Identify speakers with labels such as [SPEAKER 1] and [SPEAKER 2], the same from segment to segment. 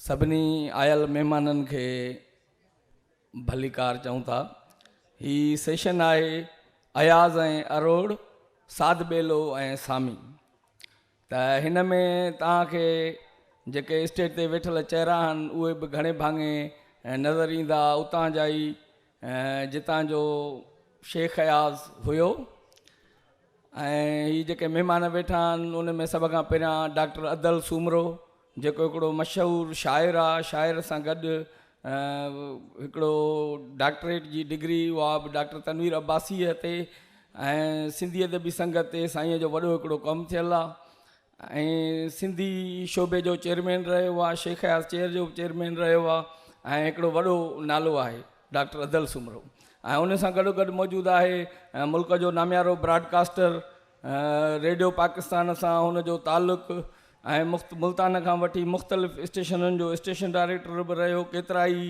[SPEAKER 1] سڀني آيل مهمانن کي ڀليڪار چئون ٿا هي سيشن آهي اياز ۽ اروڙ ساڌ ٻيلو ۽ سامي ته هن ۾ توهان کي جيڪي اسٽيج تي ويٺل چهرا آهن اهي به گهڻي ڀاڱي نظر ايندا اتان جا ئي جتان جو شيخ اياز هيو ۽ هي جيڪي مهمان ويٺا آهن ان ۾ سڀ کان پهريان ڊاڪٽر ادل سومرو جيڪو هڪڙو مشهور شاعر آ، شاعر سان گڏ هڪڙو ڊاڪٽريٽ جي ڊگري اها به ڊاڪٽر تنوير عباسيء تي ۽ سنڌي ادبي سنگت تي سائينء جو وڏو هڪڙو ڪم ٿيل آ ۽ سنڌي شعبي جو چيئرمين رهيو آ، شيخ اياز چيئر جو به چيئرمين رهيو آ ۽ هڪڙو وڏو نالو آهي ڊاڪٽر ادل سومرو ۽ ان سان گڏوگڏ موجود آهي ملڪ جو ناميارو براڊڪاسٽر ريڊيو پاڪستان سان هن جو تعلق ۽ ملتان کان وٺي مختلف اسٽيشنن جو اسٽيشن ڊائريڪٽر به رهيو ڪيترائي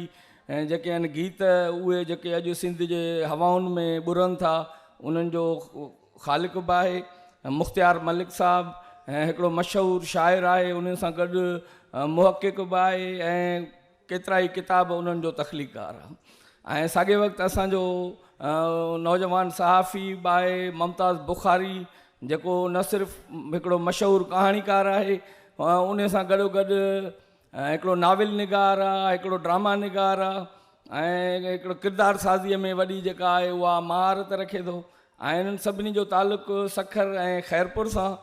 [SPEAKER 1] جيڪي آهن گيت اهي جيڪي اڄ سنڌ جي هوائن ۾ ٻرن ٿا انهن جو خالق به آهي مختيار ملڪ صاحب هڪڙو مشهور شاعر آهي انهن سان گڏ محقق به آهي ۽ ڪيترائي ڪتاب انهن جو تخليقڪار آ ۽ ساڳئي وقت اسان جو نوجوان صحافي باء ممتاز بخاري جيڪو نه صرف هڪڙو مشهور ڪهاڻيڪار آهي انهي سان گڏو گڏ هڪڙو ناول نگار آ هڪڙو ڊراما نگار آ ۽ هڪڙو ڪردار سازي ۾ وڏي جيڪا آهي اها مهارت رکي ٿو ۽ انهن سڀني جو تعلق سکر ۽ خيرپور سان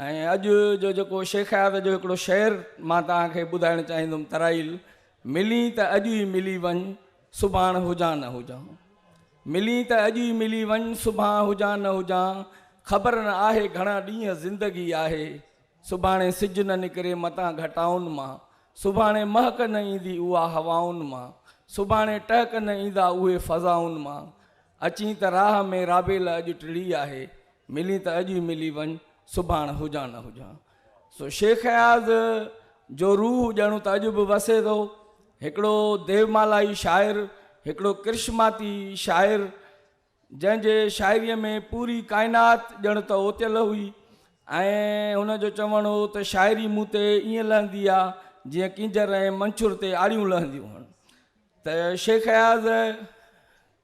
[SPEAKER 1] ۽ اڄ جو جيڪو شيخ اياز جو هڪڙو شعر مان توهان کي ٻڌائڻ چاهيندم ترائيل، ملين ته اڄ ئي ملي وڃ، سڀاڻ هجان نه هجان. ملين ته اڄ ئي ملي وڃ، سڀان هجان نه هجان، خبر نه آهي گهڻا ڏينهن زندگي آهي، سڀاڻي سج نه نڪري متان گهٽائن مان، سڀاڻي مهڪ نه ايندي اها هوائن مان، سڀاڻي ٽهڪ نه ايندا اهي فضائن مان، اچين ته راهه ۾ رابيل اڄ ٽڙي آهي، ملين ته اڄ ئي ملي وڃ، سڀاڻ هجان نه هجان. سو شيخ اياز جو روح ڄڻ ته اڄ به وسي ٿو. هڪڙو ديومالائي شاعر، هڪڙو ڪرشماتي شاعر، جنهن جي شاعريء ۾ پوري ڪائنات ڄڻ ته اوتيل هئي ۽ هن جو چوڻ هو ته شاعري مون تي ائين لهندي آ، جيئن ڪينجهر ۽ منڇر تي آڙيون لهنديون هن. ته شيخ اياز.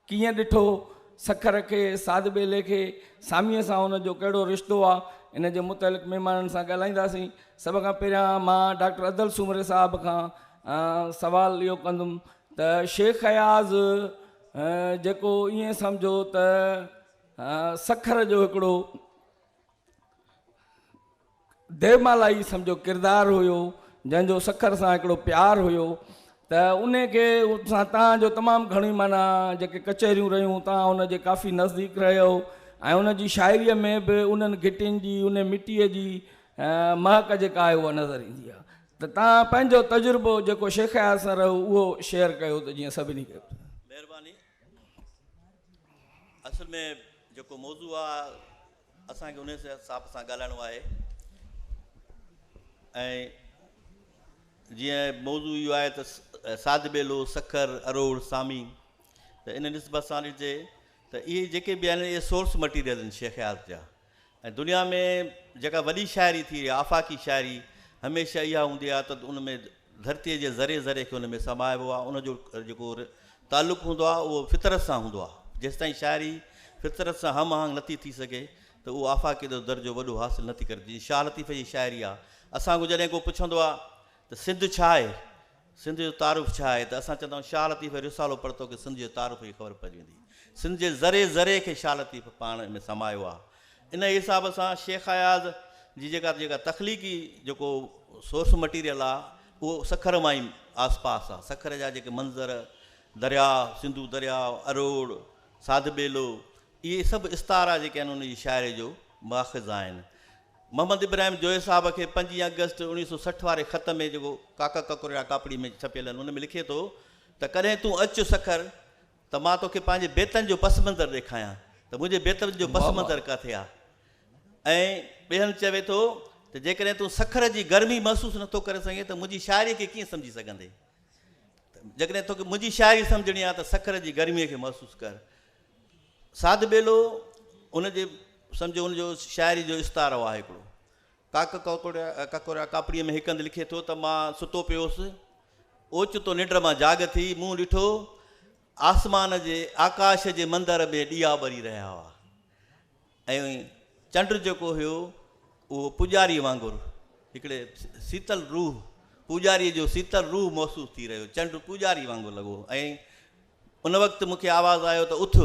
[SPEAKER 1] ڪيئن ڏٺو، سکر کي، سعد ٻيلي کي، ساميء سان ان جو ڪهڙو رشتو آ، ان جي متعلق مهمانن سان ڳالهائينداسين. سڀ کان پهريان مان ڊاڪٽر ادل سومري صاحب کان سوال اهو ڪندم ته شيخ اياز جيڪو ائين سمجهو ته سکر جو هڪڙو ديومالا ئي سمجهه جو ڪردار هيو جنهن جو سکر سان هڪڙو پيار هيو ته ان کي سان تان جو تمام گهڻي معنيٰ جيڪي ڪچهريون رهيون تان ان جي ڪافي نزديڪ رهيو ۽ ان جي شاعريء ۾ به انهن گهٽين جي ان مٽيء جي مهڪ جيڪا آهي اها نظر ايندي آهي ته تان پنهنجو تجربو جيڪو شيخ اياز سان رهيو اهو شيئر ڪيو ته جيئن سڀني کي مهرباني
[SPEAKER 2] اصل ۾ جيڪو موضوع آ اسان کي ان حساب سان ڳالهائڻو آهي ۽ جيئن موضوع اهو آهي ته ساڌ ٻيلو سکر اروڙ سامي ته ان نسبت سان ڏٺجي ته اهي جيڪي به آهن اهي سورس مٽيريل آهن شيخ اياز جا ۽ دنيا ۾ جيڪا وڏي شاعري ٿي رهي آهي آفاقي شاعري هميشه اها هوندي آهي ته ان ۾ ڌرتيء جي ذري ذري کي ان ۾ سمائبو آهي ان جو جيڪو تعلق هوندو آهي اهو فطرت سان هوندو آهي جيستائين شاعري فطرت سان هم آهنگ نٿي ٿي سگهي ته اهو آفاقيت جو درجو وڏو حاصل نٿي ڪري جيئن شاهه لطيف جي شاعري آهي اسان کان جڏهن ڪو پڇندو آهي ته سنڌ ڇا آهي سنڌ جو تعارف ڇا آهي ته اسان چوندا آهيون شاهه لطيف جو رسالو پڙهه توکي سنڌ جي تعارف جي خبر پئجي ويندي. سنڌ جي ذري ذري کي شاهه لطيف پاڻ ۾ سمايو آهي. ان حساب سان شيخ اياز جي جيڪا جيڪا تخليقي جيڪو سورس مٽيريل آهي اهو سکر مان ئي آس پاس آهي. سکر جا جيڪي منظر، درياء، سنڌو درياء، اروڙ، ساڌ ٻيلو، اهي سڀ استعارا جيڪي آهن ان جي شاعري جو ماخذ آهن. محمد ابراهيم جويي صاحب کي پنجين آگسٽ اوڻيهه سؤ سٺ واري خط ۾ جيڪو ڪاڪا ڪڪرڙا ڪاپڙي ۾ ڇپيل آهن ان ۾ لکي ٿو ته ڪڏهن تون اچ سکر ته مان توکي پنهنجي بيتن جو پس منظر ڏيکايان ته منهنجي بيتن جو پس منظر ڪاٿي آهي ۽ ٻئي هنڌ چوي ٿو ته جيڪڏهن تون سکر جي گرمي محسوس نه ٿو ڪري سگهين ته منهنجي شاعري کي ڪيئن سمجهي سگهندين ته جيڪڏهن توکي منهنجي شاعري سمجهڻي آهي ته سکر جي گرمي کي محسوس ڪر. ساڌ ٻيلو ان جي سمجهو ان جو شاعري جو استعارو آهي هڪڙو. ڪاڪ ڪاڪوريا ڪاپڙيء ۾ هڪ هنڌ لکي ٿو ته مان ستو پيو هوس، اوچتو ننڊ مان جاڳ ٿي، مون ڏٺو آسمان جي آڪاش جي مندر ۾ ڏيئا ٻري رهيا هئا ۽ چنڊ جيڪو هيو اهو پوڄاري وانگر هڪڙي سيتل روح پوڄاري جو سيتل روح محسوس ٿي رهيو چنڊ پوڄاري وانگر لڳو ۽ ان وقت مون کي آواز آيو ته اٿ،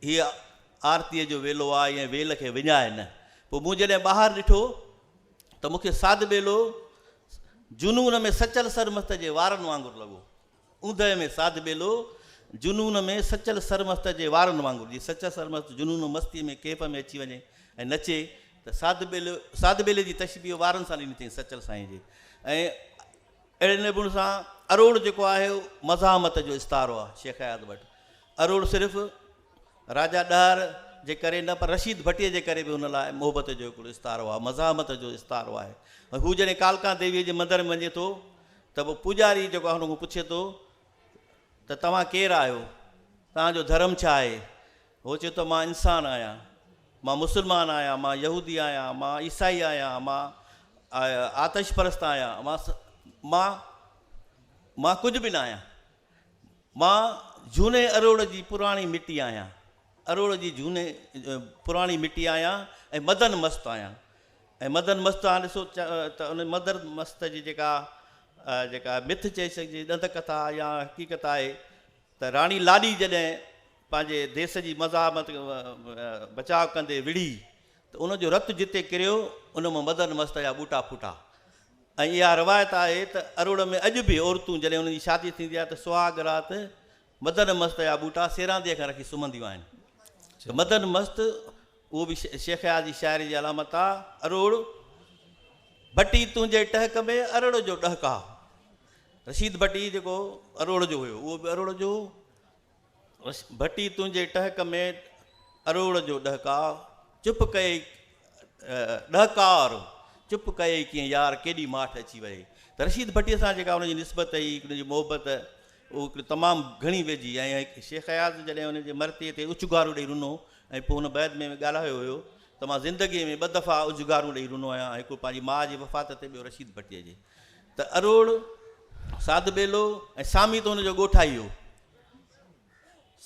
[SPEAKER 2] هيء آرتيء جو ويلو آ ۽ ويل کي وڃاء نه. پوء مون جڏهن ٻاهر ڏٺو ته مون کي ساڌ ٻيلو جنون ۾ سچل سرمست جي وارن وانگر لڳو. اوندهه ۾ ساڌ ٻيلو جنون ۾ سچل سرمست جي وارن وانگر، جيئن سچل سرمست جنون ۽ مستيء ۾ ڪيف ۾ اچي وڃي ۽ نچي ته ساڌ ٻيلو ساڌ ٻيلي جي تشبيهه وارن سان ڏني اٿئين سچل سائين جي ۽ اهڙي نمون سان اروڙ جيڪو آهي مزاحمت جو استعارو آهي شيخ اياز وٽ اروڙ صرف راجا ڏهر جي ڪري نه پر رشيد ڀٽي جي ڪري به هن لاء محبت جو هڪڙو استعارو آهي مزاحمت جو استعارو آهي هو جڏهن ڪالڪا ديوي جي مندر ۾ وڃي ٿو ته پوء پوڄاري جيڪو هن کان پڇي ٿو ته توهان ڪير آهيو توهان جو ڌرم ڇا آهي هو چئي ٿو مان انسان آهيان، مان مسلمان آهيان، مان يهودي آهيان، مان عيسائي آهيان، مان آتش پرست آهيان، مان مان مان ڪجهه به نه آهيان. مان جهوني اروڙ جي پراڻي مٽي آهيان، اروڙ جي جهوني پراڻي مٽي آهيان ۽ مدن مست آهيان ۽ مدن مست تان ڏسو ته ان مدر مست جي جيڪا جيڪا مٿ چئي سگهجي ڏند ڪٿا يا حقيقت آهي ته راڻي لاڏي جڏهن پنهنجي ديس جي مزاحمت بچاء ڪندي وڙهي ته ان جو رت جتي ڪريو ان مان مدن مست جا ٻوٽا ڦٽا ۽ اها روايت آهي ته اروڙ ۾ اڄ به عورتون جڏهن انهن جي شادي ٿيندي آهي ته سهاڳ رات مدن مست جا ٻوٽا سيرانديء کان رکي سمهنديون آهن ته مدن مست اهو به شيخ اياز جي شاعري جي علامت آ اروڙ ڀٽي تنهنجي ٽهڪ ۾ ارڙ جو ڏهڪاء رشيد ڀٽي جيڪو اروڙ جو هيو اهو به اروڙ جو هو ڀٽي تنهنجي ٽهڪ ۾ اروڙ جو ڏهڪاء چپ ڪيئي ڏهڪار چپ ڪيئي ڪيئن يار ڪيڏي ماٺ اچي وهي ته رشيد ڀٽي سان جيڪا ان جي نسبت هئي ان جي محبت اهو هڪڙي تمام گهڻي ويجهي ۽ شيخ اياز جڏهن ان جي مرثيي تي اچگارو ڏئي رنو ۽ پوء هن بيت ۾ ڳالهايو هيو ته مان زندگي ۾ ٻه دفعا اجگارون ڏئي رنو آهيان هڪڙو پنهنجي ماء جي وفات تي ٻيو رشيد ڀٽي جي ته اروڙ ساڌٻيلو ۽ سامي ته ان جو ڳوٺائي هو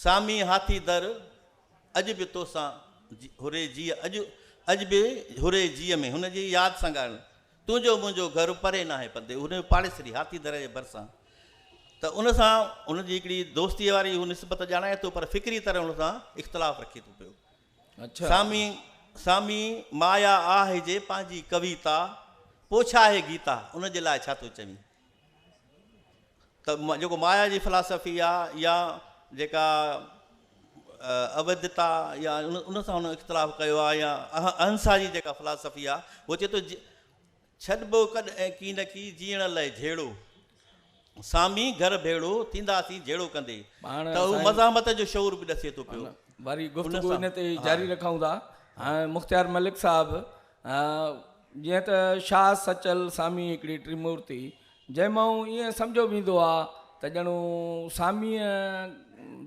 [SPEAKER 2] سامي هاٿي در، اڄ به توسان هوري جيء اڄ اڄ به هوري جيء ۾ هن جي ياد سان ڳائڻ تنهنجو منهنجو گهر پري ناهي پندي هن جو پاڙيسري هاٿي در جي ڀرسان ته ان سان هن جي هڪڙي دوستي واري هو نسبت ڄاڻائي ٿو پر فڪري طرح هن سان اختلاف رکي ٿو پيو اڇا سامي
[SPEAKER 1] سامي
[SPEAKER 2] مايا آهه جي پنهنجي ڪويتا پوڇا هي گيتا ان جي لاء ڇا ٿو چوين ته جيڪو مايا جي فلاسافي آ يا جيڪا اويدتا يا ان سان هن اختلاف ڪيو آ يا اهنسا جي جيڪا فلاسافي آ هو چي ٿو ڇڏ بو ڪڏ ۽ ڪي نه ڪي جيئڻ لئه جهيڙو سامي گهر ڀيڙو ٿيندا سين جهيڙو ڪندي ته هو مزاحمت جو شعور به ڏسي ٿو پيو واري گفتگو ان
[SPEAKER 1] تي جاري رکون ٿا هاڻ مختيار ملڪ صاحب جيئن ته شاهه سچل سامي هڪڙي ٽريمورتي جنهن مئون ائين سمجهيو ويندو آ ته ڄڻو ساميء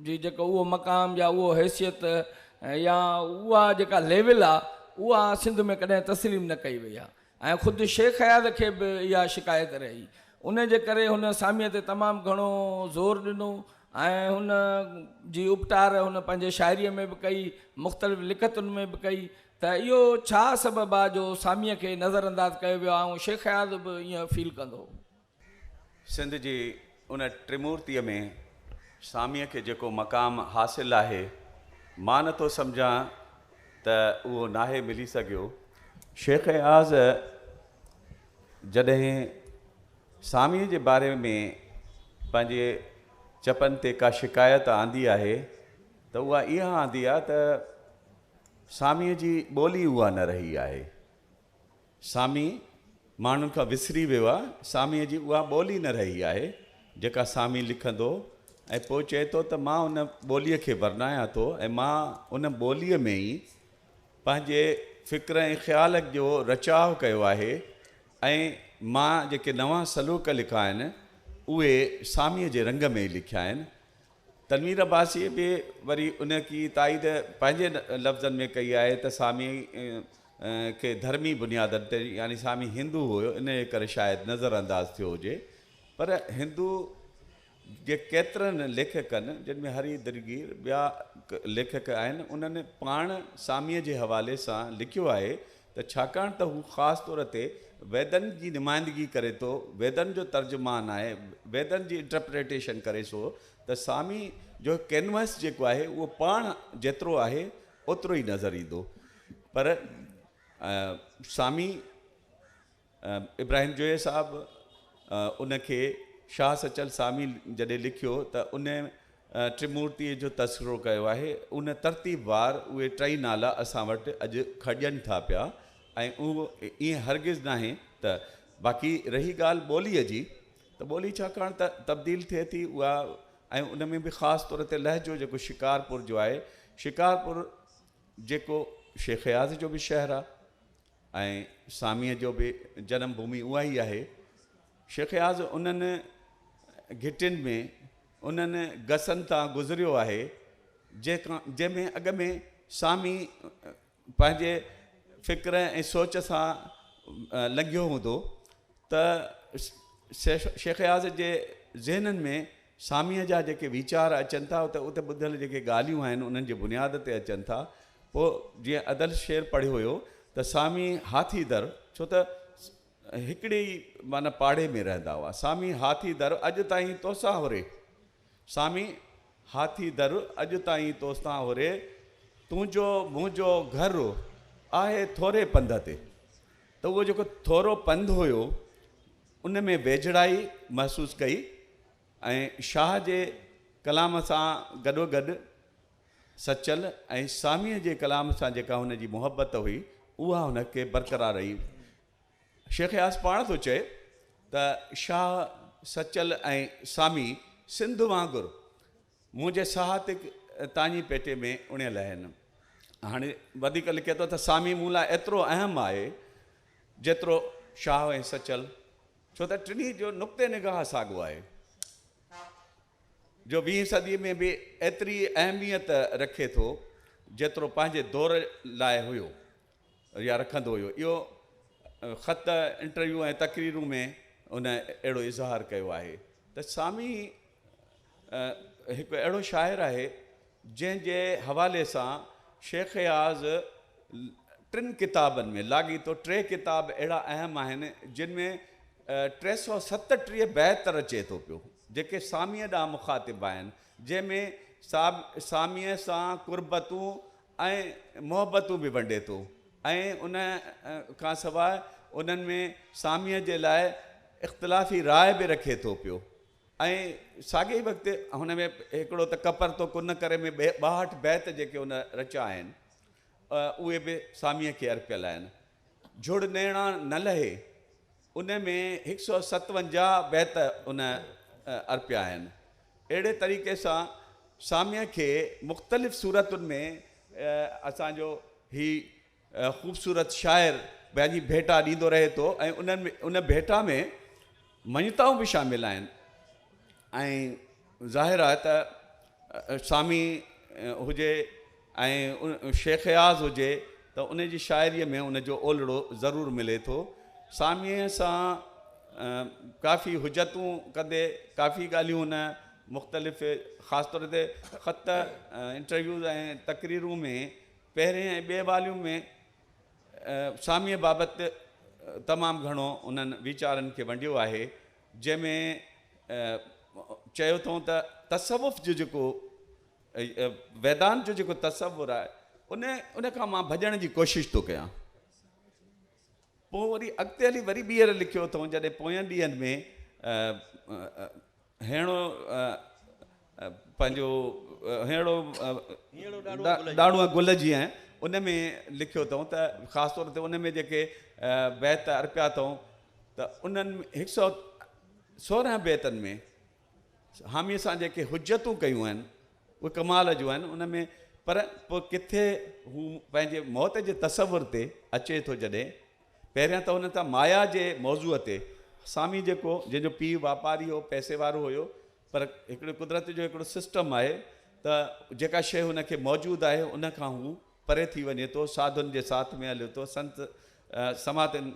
[SPEAKER 1] جي جيڪو اهو مقام يا اهو حيثيت يا اها جيڪا ليول آ اها سنڌ ۾ ڪڏهن تسليم نه ڪئي وئي آ ۽ خود شيخ اياز کي به اها شڪايت رهي انهي جي ڪري هن ساميء تي تمام گهڻو زور ڏنو ۽ هن جي اپٽار هن پنهنجي شاعريء ۾ به ڪئي مختلف لکتن ۾ به ڪئي ته اهو ڇا سبب آ جو ساميء کي نظر انداز ڪيو ويو آ ۽ شيخ اياز به ائين فيل ڪندو هو.
[SPEAKER 3] سنڌ جي ان ٽرمورتيء ۾ ساميء کي جيڪو مقام حاصل آهي، مان نه ٿو سمجهان ته اهو ناهي ملي سگهيو. شيخ اياز جڏهن ساميء جي باري ۾ پنهنجي چپن تي ڪا شڪايت آندي آهي ته اها اها آندي آ ته ساميء جي ٻولي اها نه رهي آهي. سامي ماڻهن کان وسري ويو آهي. ساميء جي اها ٻولي نه رهي آهي، جيڪا سامي لکندو ۽ پوء چئي ٿو ته مان ان ٻوليء کي ورنايان ٿو ۽ مان ان ٻوليء ۾ ئي پنهنجي فڪر ۽ خيال جو رچاء ڪيو آهي ۽ مان جيڪي نوان سلوڪ لکا آهن، اهي ساميء جي رنگ ۾ ئي لکيا آهن. تنوير عباسيء به وري انهيء تائيد پنهنجي لفظن ۾ ڪئي آهي ته ساميء کي ڌرمي بنيادن تي يعني سامي هندو هيو انهيء ڪري شايد نظر انداز ٿيو هجي پر هندو جي ڪيترن ليکڪن جن ۾ هري درگير ٻيا ليکڪ آهن انهن پاڻ ساميء جي حوالي سان لکيو آهي ته ڇاڪاڻ ته هو خاص طور تي ويدن جي نمائندگي ڪري ٿو، ويدن جو ترجمان آهي، ويدن جي انٽرپريٽيشن ڪري سو ته سامي جو ڪينوئس جيڪو آهي اهو پاڻ جيترو آهي اوترو ئي نظر ايندو پر سامي ابراهيم جويي صاحب ان کي شاهه سچل سامي جڏهن لکيو ته ان ٽرمورتيء جو تذڪرو ڪيو آهي. ان ترتيب وار اهي ٽئي نالا اسان وٽ اڄ کڄن ٿا پيا ۽ اهو ائين هرگز ناهي ته باقي رهي ڳالهه ٻوليء جي ته ٻولي ڇاڪاڻ ته تبديل ٿئي ٿي اها ۽ ان ۾ به خاص طور تي لهجو جيڪو شڪارپور جو آهي شڪارپور جيڪو شيخ اياز جو به شهر آهي ۽ ساميء جو به جنم ڀومي اها ئي آهي. شيخ اياز انهن گهٽين ۾، انهن گسن تان گذريو آهي، جنهن ۾ اڳ ۾ سامي پنهنجي فڪر ۽ سوچ سان لنگهيو هوندو. ته شيخ اياز جي ذهنن ۾ ساميء جا جيڪي ويچار اچن ٿا ته اتي ٻڌل جيڪي ڳالهيون آهن انهن جي بنياد تي اچن ٿا پوء جيئن ادل شعر پڙهيو هيو ته سامي هاٿي در ڇو ته هڪڙي ئي معنيٰ پاڙي ۾ رهندا هئا سامي هاٿي در اڄ تائين توسان هوري سامي هاٿي در، اڄ تائين توستان هوري، تنهنجو منهنجو گهر آهي ٿوري پنڌ تي. ته اهو جيڪو ٿورو پنڌ هيو، ان ۾ ويجهڙائي محسوس ڪئي ۽ شاهه جي ڪلام سان گڏوگڏ سچل ۽ ساميء جي ڪلام سان جيڪا هن جي محبت هئي، اها هن کي برقرار رهي. شيخ اياز پاڻ ٿو چئي ته شاهه سچل ۽ سامي سنڌ وانگر منهنجي ساهتڪ تاڃي پيٽي ۾ اڻيل آهن. هاڻي وڌيڪ لکي ٿو ته سامي مون لاء ايترو اهم آهي جيترو شاهه ۽ سچل ڇو ته ٽنهي جو نقطه نگاهه ساڳو آهي جو ويهين صدي ۾ به ايتري اهميت رکي ٿو جيترو پنهنجي دور لاء هيو. يا رکندو هيو. اهو خط، انٽرويو ۽ تقريرون ۾ هن اهڙو اظهار ڪيو آهي ته سامي هڪ اهڙو شاعر آهي جنهن جي حوالي سان شيخ اياز ٽن ڪتابن ۾ لاڳيتو ٽي ڪتاب اهڙا اهم آهن جن ۾ ٽي سؤ ستٽيهه بيت رچي ٿو پيو جيڪي ساميء ڏانهن مخاطب آهن جنهن ۾ ساميء سان قربتون ۽ محبتون به ونڊي ٿو ۽ ان کان سواء انهن ۾ ساميء جي لاء اختلافي راء به رکي ٿو پيو ۽ ساڳئي ئي وقت هن ۾ هڪڙو ته ڪپر تو ڪن ڪري ۾ ٻاهٺ بيت جيڪي ان رچيا آهن اهي به ساميء کي ارپيل آهن جھڙ نيڻان نه لهي ان ۾ هڪ سؤ ستونجاهه بيت ان ارپيا آهن. اهڙي طريقي سان ساميء کي مختلف صورتن ۾ اسان جو هي خوبصورت شاعر پنهنجي ڀيٽا ڏيندو رهي ٿو ۽ ان ڀيٽا ۾ مڃتائون به شامل آهن ۽ ظاهر آهي ته سامي هجي ۽ شيخ اياز هجي ته ان جي شاعريء ۾ ان جو اولڙو ضرور ملي ٿو. ساميء سان ڪافي حجتون ڪندي ڪافي ڳالهيون هن مختلف خاص طور تي خط، انٽرويوز ۽ تقريرون ۾ پهرين ۽ ٻئي واليوم ۾ ساميء بابت تمام گهڻو انهن ويچارن کي ونڊيو آهي جنهن ۾ چيو اٿئون ته تصوف جو جيڪو ويدانت جو جيڪو تصور آهي ان ان کان مان ڀڄڻ جي ڪوشش ٿو ڪيان پوء وري اڳتي هلي وري ٻيهر لکيو اٿئون جڏهن پوين ڏينهن ۾ هيڻو پنهنجو هيڻو ڏاڙو گل جي آهي ان ۾ لکيو اٿئون ته خاص طور تي ان ۾ جيڪي بيت ارپيا اٿئون ته انهن هڪ سو سورهن بيتن ۾ حاميء سان جيڪي حجتون ڪيون آهن، اهي ڪمال جون آهن، ان ۾، پر پوء ڪٿي هو پنهنجي موت جي تصور تي اچي ٿو جڏهن، پهريان ته هن تان مايا جي موضوع تي، سامي جيڪو، جنهن جو پيء واپاري هو، پئسي وارو هيو، پر هڪڙي قدرت جو هڪڙو سسٽم آهي ته جيڪا شيء هن کي موجود آهي، ان کان هو پري ٿي وڃي ٿو، ساڌن جي ساٿ ۾ هلي ٿو، سنت سماتن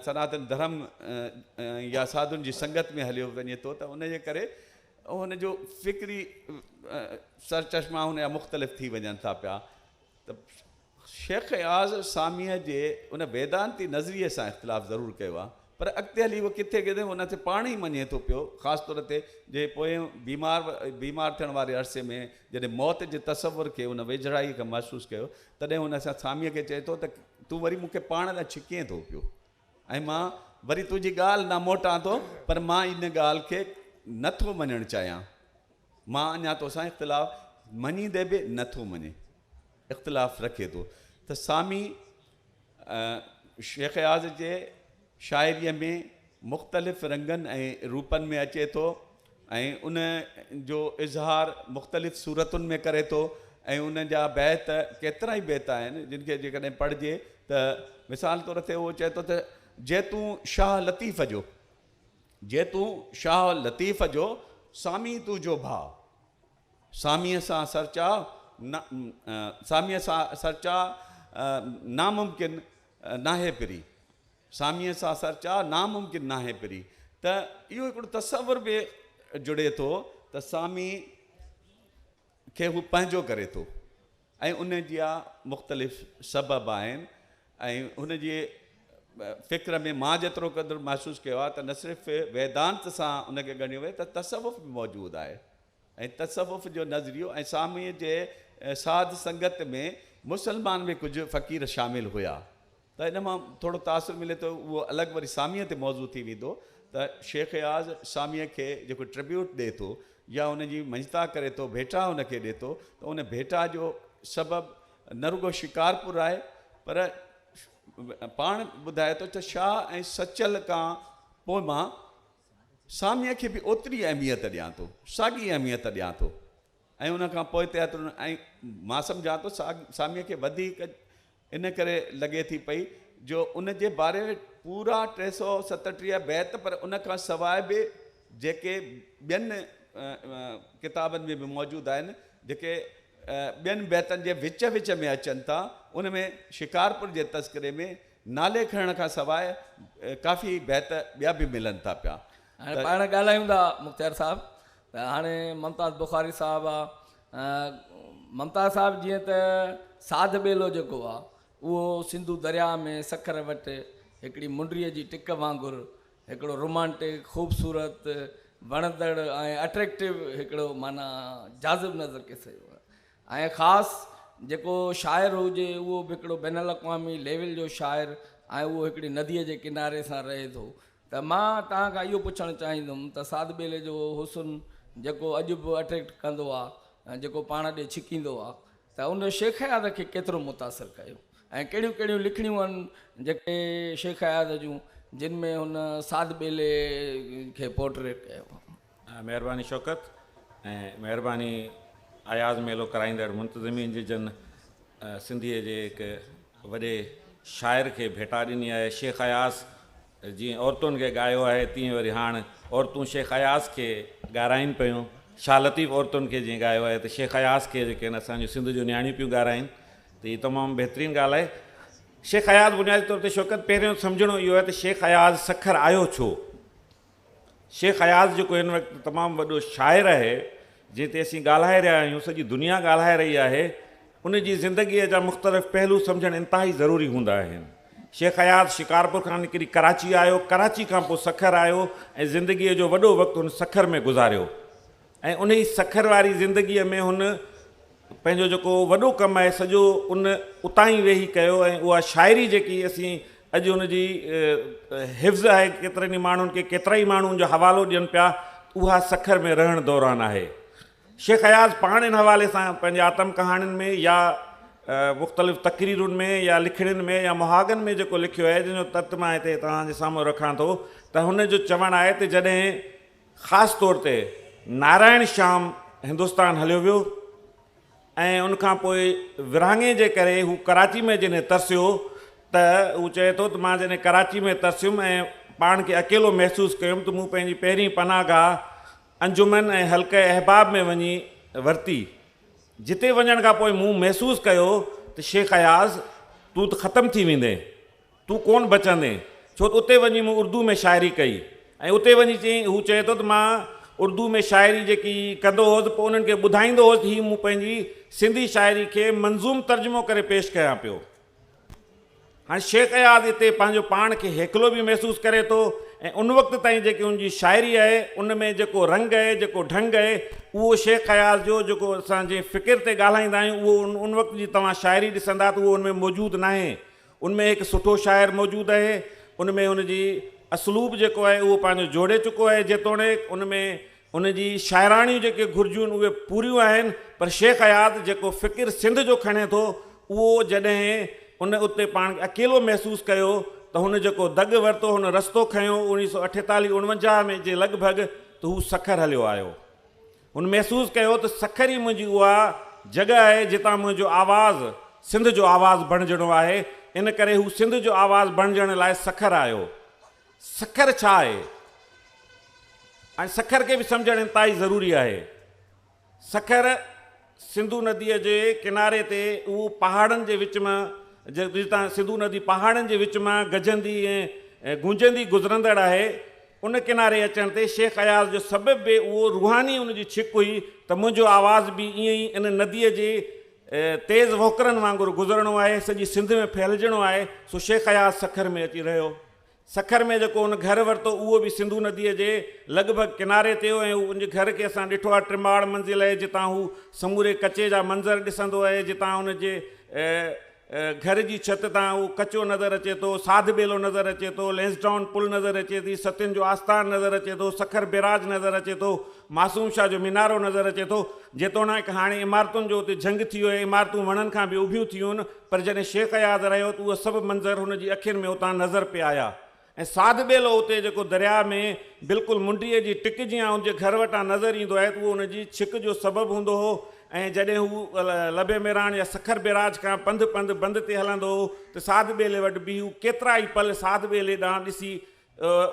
[SPEAKER 3] سناتن ڌرم يا ساڌن جي سنگت ۾ هليو وڃي ٿو ته ان جي ڪري هن جو فڪري سرچشما هن جا مختلف ٿي وڃن ٿا پيا ته شيخ اياز ساميء جي ان ويدانتي نظريي سان اختلاف ضرور ڪيو آهي پر اڳتي هلي هو ڪٿي ڪٿي هن کي پاڻ ئي مڃي ٿو پيو، خاص طور تي جي پويان بيمار بيمار ٿيڻ واري عرصي ۾ جڏهن موت جي تصور کي هن ويجهڙائيء کان محسوس ڪيو، تڏهن هن سان ساميء کي چئي ٿو ته تون وري مون کي پاڻ ڏانهن ڇڪين ٿو پيو ۽ مان وري تنهنجي ڳالهه ڏانهن موٽان ٿو پر مان ان ڳالهه کي نه ٿو مڃڻ چاهيان. مان اڃا توسان اختلاف مڃيندي به نه ٿو مڃي اختلاف رکي ٿو ته سامي شيخ اياز جي شاعريء ۾ مختلف رنگن ۽ روپن ۾ اچي ٿو ۽ ان جو اظهار مختلف صورتن ۾ ڪري ٿو ۽ ان جا بيت ڪيترا ئي بيت آهن جن کي جيڪڏهن پڙهجي ته مثال طور تي اهو چئي ٿو ته جيتون شاهه لطيف جو جي تون شاهه لطيف جو سامي تون جو ڀاء ساميء سان سرچاء نه ساميء سان سرچاء ناممڪن ناهي پري ساميء سان سرچاء ناممڪن ناهي پري ته اهو هڪڙو تصور به جڙي ٿو ته سامي کي هو پنهنجو ڪري ٿو. ۽ ان جا مختلف سبب آهن ۽ هن جي فڪر ۾ مان جيترو قدر محسوس ڪيو آهي ته نه صرف ويدانت سان ان کي ڳڻيو وڃي ته تصوف به موجود آهي ۽ تصوف جو نظريو ۽ ساميء جي ساڌ سنگت ۾ مسلمان به ڪجهه فقير شامل هيا ته ان مان ٿورو تاثر ملي ٿو اهو الڳ وري ساميء تي موضوع ٿي ويندو ته شيخ اياز ساميء کي جيڪو ٽربيوٽ ڏئي ٿو يا ان جي مڃتا ڪري ٿو ڀيٽا ان کي ڏئي ٿو ته ان ڀيٽا جو سبب نه رڳو شڪارپور آهي پر پاڻ ٻڌائي ٿو ته شاهه ۽ سچل کان پوء مان ساميء کي به اوتري اهميت ڏيان ٿو ساڳي اهميت ڏيان ٿو ۽ ان کان پوئتي ۽ مان سمجهان ٿو ساميء کي وڌيڪ ان ڪري لڳي ٿي پئي جو ان جي باري ۾ پورا ٽي سؤ ستٽيهه بيت پر ان کان سواء به جيڪي ٻين ڪتابن ۾ به موجود آهن جيڪي ٻين بيتن جي وچ وچ ۾ اچن ٿا ان ۾ شڪارپور جي تذڪري ۾ نالي کڻڻ کان سواء ڪافي بيت ٻيا به ملن ٿا پيا هاڻي پاڻ ڳالهايون
[SPEAKER 1] ٿا مختيار صاحب ته هاڻي ممتاز بخاري صاحب آ ممتاز صاحب جيئن ته ساڌ ٻيلو جيڪو آ اهو سنڌو درياء ۾ سکر وٽ هڪڙي منڊري جي ٽڪ وانگر هڪڙو رومانٽڪ خوبصورت وڻندڙ ۽ اٽريڪٽو هڪڙو معنيٰ جاذب نظر ڪي سگهي ٿو ۽ خاص جيڪو شاعر هجي اهو به هڪڙو بين الاقوامي ليول جو شاعر ۽ اهو هڪڙي نديء جي ڪناري سان رهي ٿو ته مان توهان کان اهو پڇڻ چاهيندم ته سعد ٻيلي جو اهو حسن جيڪو اڄ به اٽريڪٽ ڪندو آ ۽ جيڪو پاڻ ڏي ڇڪيندو آ ته ان شيخ اياز کي ڪيترو متاثر ڪيو ۽ ڪهڙيون ڪهڙيون لکڻيون آهن جيڪي شيخ اياز جون جن ۾ هن سعد ٻيلي کي پورٽريٽ ڪيو آ. مهرباني
[SPEAKER 4] شوڪت ۽ مهرباني اياز ميلو ڪرائيندڙ منتظمين جي جن سنڌيء جي هڪ وڏي شاعر کي ڀيٽا ڏني آهي شيخ اياز جيئن عورتن کي ڳايو آهي تيئن وري هاڻ عورتون شيخ اياز کي ڳارائين پيون شاهه لطيف عورتن کي جيئن ڳايو آهي ته شيخ اياز کي جيڪي آهن اسان جون سنڌ جون نياڻيون پيون ڳارائين ته هي تمام بهترين ڳالهه آهي شيخ اياز بنيادي طور تي شوڪت پهريون سمجهڻو اهو آهي ته شيخ اياز سکر آيو ڇو؟ شيخ اياز جيڪو هن وقت تمام وڏو شاعر آهي، جنهن تي اسين ڳالهائي رهيا آهيون، سڄي دنيا ڳالهائي رهي آهي، ان جي زندگيء جا مختلف پهلو سمجهڻ انتهائي ضروري هوندا آهن. شيخ اياز شڪارپور کان نڪري ڪراچي آيو، ڪراچي کان پوء سکر آيو ۽ زندگيء جو وڏو وقت هن سکر ۾ گذاريو. ۽ انهي سکر واري زندگيء ۾ هن پنهنجو جيڪو وڏو ڪم آهي سڄو ان اتان ئي ويهي ڪيو ۽ اها شاعري جيڪي اسين اڄ ان جي حفظ آهي ڪيترن ئي ماڻهن کي ڪيترا ئي ماڻهو ان جو حوالو ڏين پيا اها سکر ۾ رهڻ دوران آهي. شيخ اياز پاڻ ان حوالي سان پنهنجي آتم ڪهاڻين ۾ يا مختلف تقريرن ۾ يا لکڻين ۾ يا مهاڳن ۾ جيڪو لکيو آهي جنهن جو تت مان هتي توهان جي سامهون رکان ٿو ته هن جو چوڻ آهي ته جڏهن خاص طور تي نارائڻ شيام هندستان هليو ويو ۽ ان کان پوء ورهاڱي جي ڪري هو ڪراچي ۾ جڏهن ترسيو ته هو چئي ٿو ته مان جڏهن ڪراچي ۾ ترسيم ۽ پاڻ کي اڪيلو محسوس ڪيم ته مون پنهنجي پهرين پناهه گاهه انجمن ۽ حلقه احباب ۾ وڃي ورتي جتي وڃڻ کان پوء مون محسوس ڪيو ته شيخ اياز تون ته ختم ٿي ويندين. تون ڪونه بچندين، ڇو ته اتي وڃي مون اردوء ۾ شاعري ڪئي ۽ اتي وڃي چيائين، هو چئي ٿو ته مان اردوء ۾ شاعري جيڪي ڪندو هوس، پوء انهن کي ٻڌائيندو هوس ته هي مون پنهنجي سنڌي شاعري کي منظوم ترجمو ڪري پيش ڪيان پيو. هاڻ شيخ اياز اتي پنهنجو پاڻ کي هيکلو به محسوس ڪري ٿو ۽ ان وقت تائين جيڪي ان جي شاعري آهي، ان ۾ جيڪو رنگ آهي، جيڪو ڍنگ آهي، اهو شيخ اياز جو جيڪو اسان جنهن فڪر تي ڳالهائيندا آهيون، اهو ان وقت جي توهان شاعري ڏسندا ته اهو ان ۾ موجود ناهي. ان ۾ هڪ سٺو شاعر موجود اهي ان ۾ ان جي اسلوب جيڪو آهي اهو پنهنجو جوڙي چڪو اهي جيتوڻيڪ ان ۾ ان جي شاعراڻيون جيڪي گهرجون اهي پوريون آهن پر شيخ اياز جيڪو فڪر سنڌ جو کڻي ٿو اهو جڏهن ان اتي پاڻ کي اڪيلو محسوس ڪيو ته هن جيڪو دڳ ورتو هن رستو کنيو اڻيهه سؤ اٺيتاليهه اڻونجاهه ۾ جي لڳ ڀڳ ته هو سکر هليو آيو هن محسوس ڪيو ته سکر ئي منهنجي اها جڳهه آهي جتان منهنجو آواز سنڌ جو آواز بڻجڻو آهي، ان ڪري هو سنڌ جو آواز بڻجڻ لاء سکر آيو. سکر ڇا آهي؟ ۽ سکر کي به سمجهڻ انتهائي ضروري آهي. سکر سنڌو نديء جي ڪناري تي اهو پهاڙن جي وچ مان جتان سنڌو ندي پهاڙن جي وچ مان گجندي ۽ گونجندي گذرندڙ آهي، ان ڪناري اچڻ تي شيخ اياز جو سبب به اهو روحاني ان جي ڇڪ هئي ته منهنجو آواز به ائين ئي ان نديء جي تيز وهڪرن وانگر گذرڻو آهي، سڄي سنڌ ۾ ڦهلجڻو آهي، سو شيخ اياز سکر ۾ اچي رهيو. سکر ۾ جيڪو هن گهر ورتو اهو به سنڌو نديء جي لڳ ڀڳ ڪناري تي هو ۽ ان گهر کي اسان ڏٺو آهي ٽماڙ منزل اهي جتان هو سموري ڪچي جا منظر ڏسندو اهي جتان هن جي گهر جي ڇت تان اهو ڪچو نظر اچي ٿو، ساڌ ٻيلو نظر اچي ٿو، لئنسڊائون پل نظر اچي ٿي، ستين جو آستان نظر اچي ٿو، سکر بئراج نظر اچي ٿو، معصوم شاهه جو مينارو نظر اچي ٿو. جيتوڻائڪ هاڻي عمارتن جو اتي جهنگ ٿي ويو ۽ عمارتون وڻن کان به اڀيون ٿيون پر جڏهن شيخ اياز رهيو ته اهو سڀ منظر هن جي اکين ۾ اتان نظر پئي آيا. ۽ ساڌ ٻيلو اتي جيڪو درياء ۾ بلڪل منڊيء جي ٽڪ جيان ان جي گهر وٽان نظر ايندو آهي ته اهو ان جي ڇڪ جو سبب هوندو هو ۽ جڏهن هو لبي ميراڻ يا سکر بيراج کان پنڌ پنڌ بند تي هلندو هو ته ساڌ ٻيلي وٽ بيهي هو ڪيترا ئي پل ساڌ ٻيلي ڏانهن ڏسي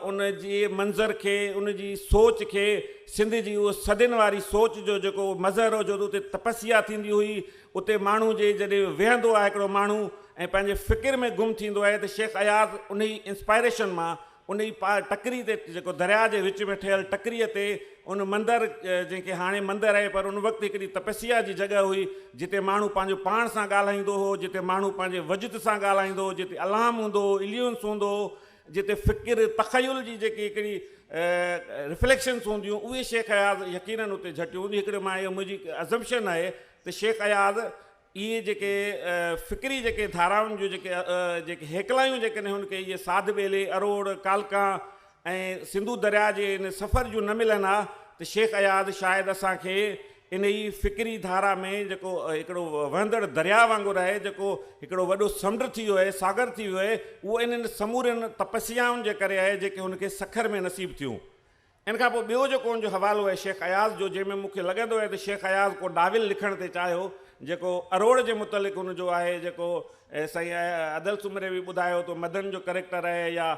[SPEAKER 4] ان جي منظر کي ان جي سوچ کي سنڌ جي اهو صدين واري سوچ جو جيڪو مظهر هو جو ته اتي تپسيا ٿيندي هئي اتي ماڻهو جي جڏهن ويهندو آهي هڪڙو ماڻهو ۽ پنهنجي فڪر ۾ گم ٿيندو آهي ته شيخ اياز انهي انسپائريشن مان انهي پا ٽڪري تي جيڪو درياء جي وچ ۾ ٺهيل ٽڪري تي ان مندر جنهن کي هاڻي مندر آهي پر ان وقت هڪڙي تپسيا جي جڳهه هئي جتي ماڻهو پنهنجو پاڻ سان ڳالهائيندو هو جتي ماڻهو پنهنجي وجد سان ڳالهائيندو هو جتي الهام هوندو هو اليونس هوندو هو جتي فڪر تخيل جي جيڪي هڪڙي رفليڪشنس هونديون اهي شيخ اياز يقينن اتي جهٽيون هونديون هڪڙي مان اهو منهنجي ازمپشن آهي ته شيخ اياز اهي جيڪي فڪري جيڪي ڌارائن جون جيڪي جيڪي هيڪلايون جيڪڏهن هن کي اهي ساڌ ٻيلي، اروڙ، ڪالڪان ۽ سنڌو درياء جي ان سفر جون نه ملن ها ته شيخ اياز شايد اسان کي انهي فڪري ڌارا ۾ جيڪو هڪڙو وهندڙ درياء وانگر آهي جيڪو هڪڙو وڏو سمنڊ ٿي ويو آهي، ساگر ٿي ويو آهي، اهو انهن سمورين تپسيائن جي ڪري آهي جيڪي هن کي سکر ۾ نصيب ٿيون. ان کان پوء ٻيو جيڪو ان جو حوالو آهي شيخ اياز جو جنهن ۾ مون کي لڳندو آهي ته شيخ اياز ڪو ناول لکڻ تي چاهيو جيڪو اروڙ جي متعلق ان جو آهي جيڪو سائين ادل سومري به ٻڌايو تو مدن جو ڪريڪٽر آهي يا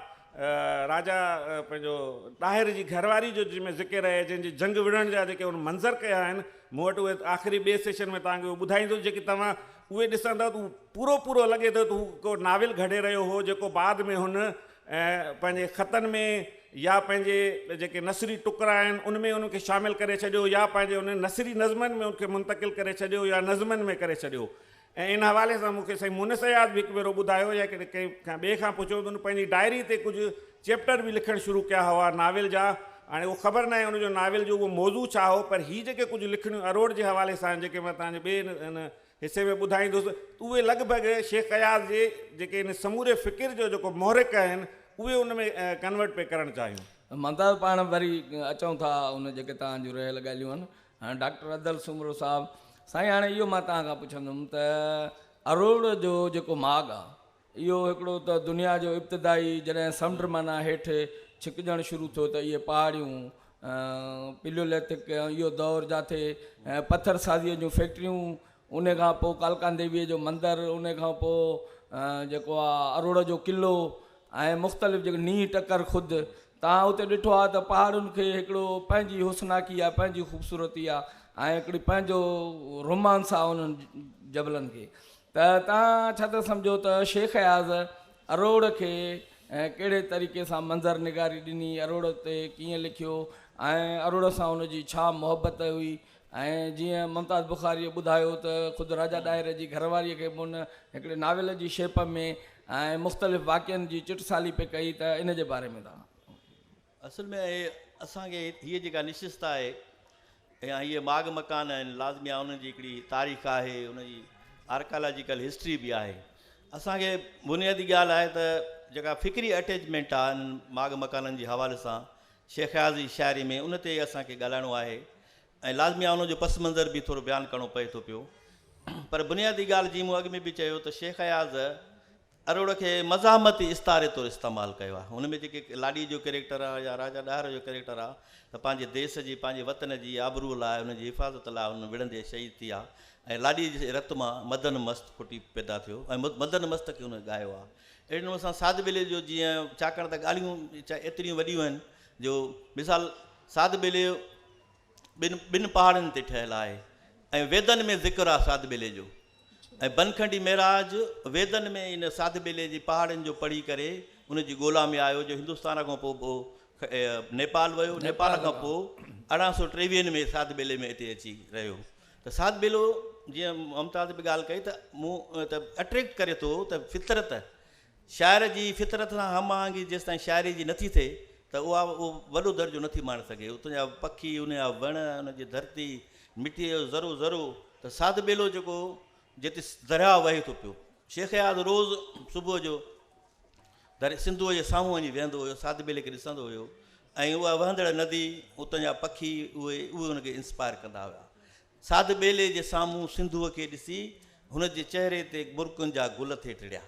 [SPEAKER 4] راجا پنهنجو ڏاهر جي گهر واري جو جنهن ۾ ذڪر آهي جنهن جي جنگ وڙهڻ جا جيڪي ان منظر ڪيا آهن مون وٽ اهي آخري ٻئي سيشن ۾ توهان کي اهو ٻڌائيندس جيڪي توهان اهي ڏسندؤ ته پورو پورو لڳي ٿو ته هو ڪو ناول گهڙي رهيو هو جيڪو بعد ۾ هن ۽ پنهنجي خطن ۾ يا پنهنجي جيڪي نثري ٽڪرا آهن ان ۾ ان کي شامل ڪري ڇڏيو يا پنهنجي انهن نثري نظمن ۾ ان کي منتقل ڪري ڇڏيو يا نظمن ۾ ڪري ڇڏيو ۽ ان حوالي سان مون کي سائين مونس اياز به هڪ ڀيرو ٻڌايو يا ڪڏهن ڪنهن کان ٻئي کان پڇيو ته ان پنهنجي ڊائري تي ڪجهه چيپٽر به لکڻ شروع ڪيا هئا ناول جا هاڻي اهو خبر ناهي ان جو ناول جو اهو موضوع ڇا هو پر هي جيڪي ڪجهه لکڻيون اروڙ جي حوالي سان آهن جيڪي مان تنهنجي ٻئي ان حصي ۾ ٻڌائيندس ته اهي لڳ ڀڳ شيخ اياز جي جيڪي هن سموري فڪر جو جيڪو محرڪ آهن اهي ان ۾ ڪنورٽ پئي ڪرڻ چاهيون. مدد پاڻ
[SPEAKER 1] وري اچون ٿا ان جيڪي توهان جون رهيل ڳالهيون آهن هاڻ ڊاڪٽر ادل سومرو صاحب سائين هاڻي اهو مان توهان کان پڇندم ته اروڙ جو جيڪو ماڳ آهي اهو هڪڙو ته دنيا جو ابتدائي جڏهن سمنڊ معنيٰ هيٺ ڇڪجڻ شروع ٿيو ته اهي پهاڙيون پليوليٿڪ ۽ اهو دور جاٿي پٿر سازيء جون فيڪٽريون ان کان پوء ڪالڪان ديويء جو مندر ان کان پوء جيڪو آ اروڙ جو قلعو ۽ مختلف جيڪو نينهن ٽڪر خود تان اتي ڏٺو آ ته پهاڙن کي هڪڙو پنهنجي حسناڪي آ پنهنجي خوبصورتي آ ۽ هڪڙي پنهنجو رومانس آ انهن جبلن کي ته تان ڇا ٿا سمجهو ته شيخ اياز اروڙ کي ڪهڙي طريقي سان منظر نگاري ڏني، اروڙ تي ڪيئن لکيو ۽ اروڙ سان هن جي ڇا محبت هئي ۽ جيئن ممتاز بخاريء ٻڌايو ته خود راجا ڏاهر جي گهر واريء کي به هن هڪڙي ناول جي شيپ ۾ ۽ مختلف واقعن جي چٽسالي پئي ڪئي ته ان جي باري ۾ توهان اصل ۾
[SPEAKER 2] اهي اسان کي هيء جيڪا نشست آهي يا هيء ماڳ مڪان آهن، لازمي آهي انهن جي هڪڙي تاريخ آهي، ان جي آرڪالاجيڪل هسٽري به آهي. اسان کي بنيادي ڳالهه آهي ته جيڪا فڪري اٽيچمينٽ آهي انهن ماڳ مڪانن جي حوالي سان شيخ اياز جي شاعري ۾ ان تي اسان کي ڳالهائڻو آهي ۽ لازمي آهي ان جو پس منظر به ٿورو بيان ڪرڻو پئي ٿو پيو پر بنيادي ڳالهه جيئن مون اڳ ۾ به چيو ته شيخ اياز اروڙ کي مزاحمتي استعاري طور استعمال ڪيو آهي ان ۾ جيڪي لاڏي جو ڪيريڪٽر آهي يا راجا ڏاهر جو ڪيريڪٽر آهي ته پنهنجي ديس جي پنهنجي وطن جي آبروء لاء ان جي حفاظت لاء هن وڙهندي شهيد ٿي آهي ۽ لاڏي جي رت مان مدن مست ڦٽي پيدا ٿيو ۽ مدن مست کي هن ڳايو آهي اهڙي نموني سان ساڌ ٻيلي جو جيئن ڇاڪاڻ ته ڳالهيون ايتريون وڏيون آهن جو مثال ساڌ ٻيلي ٻن ٻن پهاڙن تي ٺهيل آهي ۽ ويدن ۾ ذڪر آهي ساڌ ٻيلي جو ۽ بنکنڊي مهراج ويدن ۾ ان ساڌ ٻيلي جي پهاڙن جو پڙهي ڪري ان جي ڳولا ۾ آيو جو هندستان کان پوء پوء نيپال ويو نيپال کان پوء ارڙهن سو ٽيويهن ۾ ساڌ ٻيلي ۾ اتي اچي رهيو ته ساڌ ٻيلو جيئن ممتاز به ڳالهه ڪئي ته مون ته اٽريڪٽ ڪري ٿو ته فطرت شاعر جي فطرت سان هم آهنگي جيستائين شاعري جي نٿي ٿئي ته اها اهو وڏو درجو نٿي ماڻي سگهي. اتون جا پکي، ان جا وڻ، ان جي ڌرتي، مٽيء جو ذرو ذرو ته ساڌ ٻيلو جيڪو جتي درياهه وهي ٿو پيو. شيخ اياز روز صبح جو درياهه سنڌوء جي سامهون وڃي ويهندو هيو، ساڌ ٻيلي کي ڏسندو هيو ۽ اها وهندڙ ندي، اتان جا پکي اهي اهي هن کي انسپائر ڪندا هيا. ساڌ ٻيلي جي سامهون سنڌوء کي ڏسي هن جي چهري تي مرڪن جا گل ٿي ٽڙيا.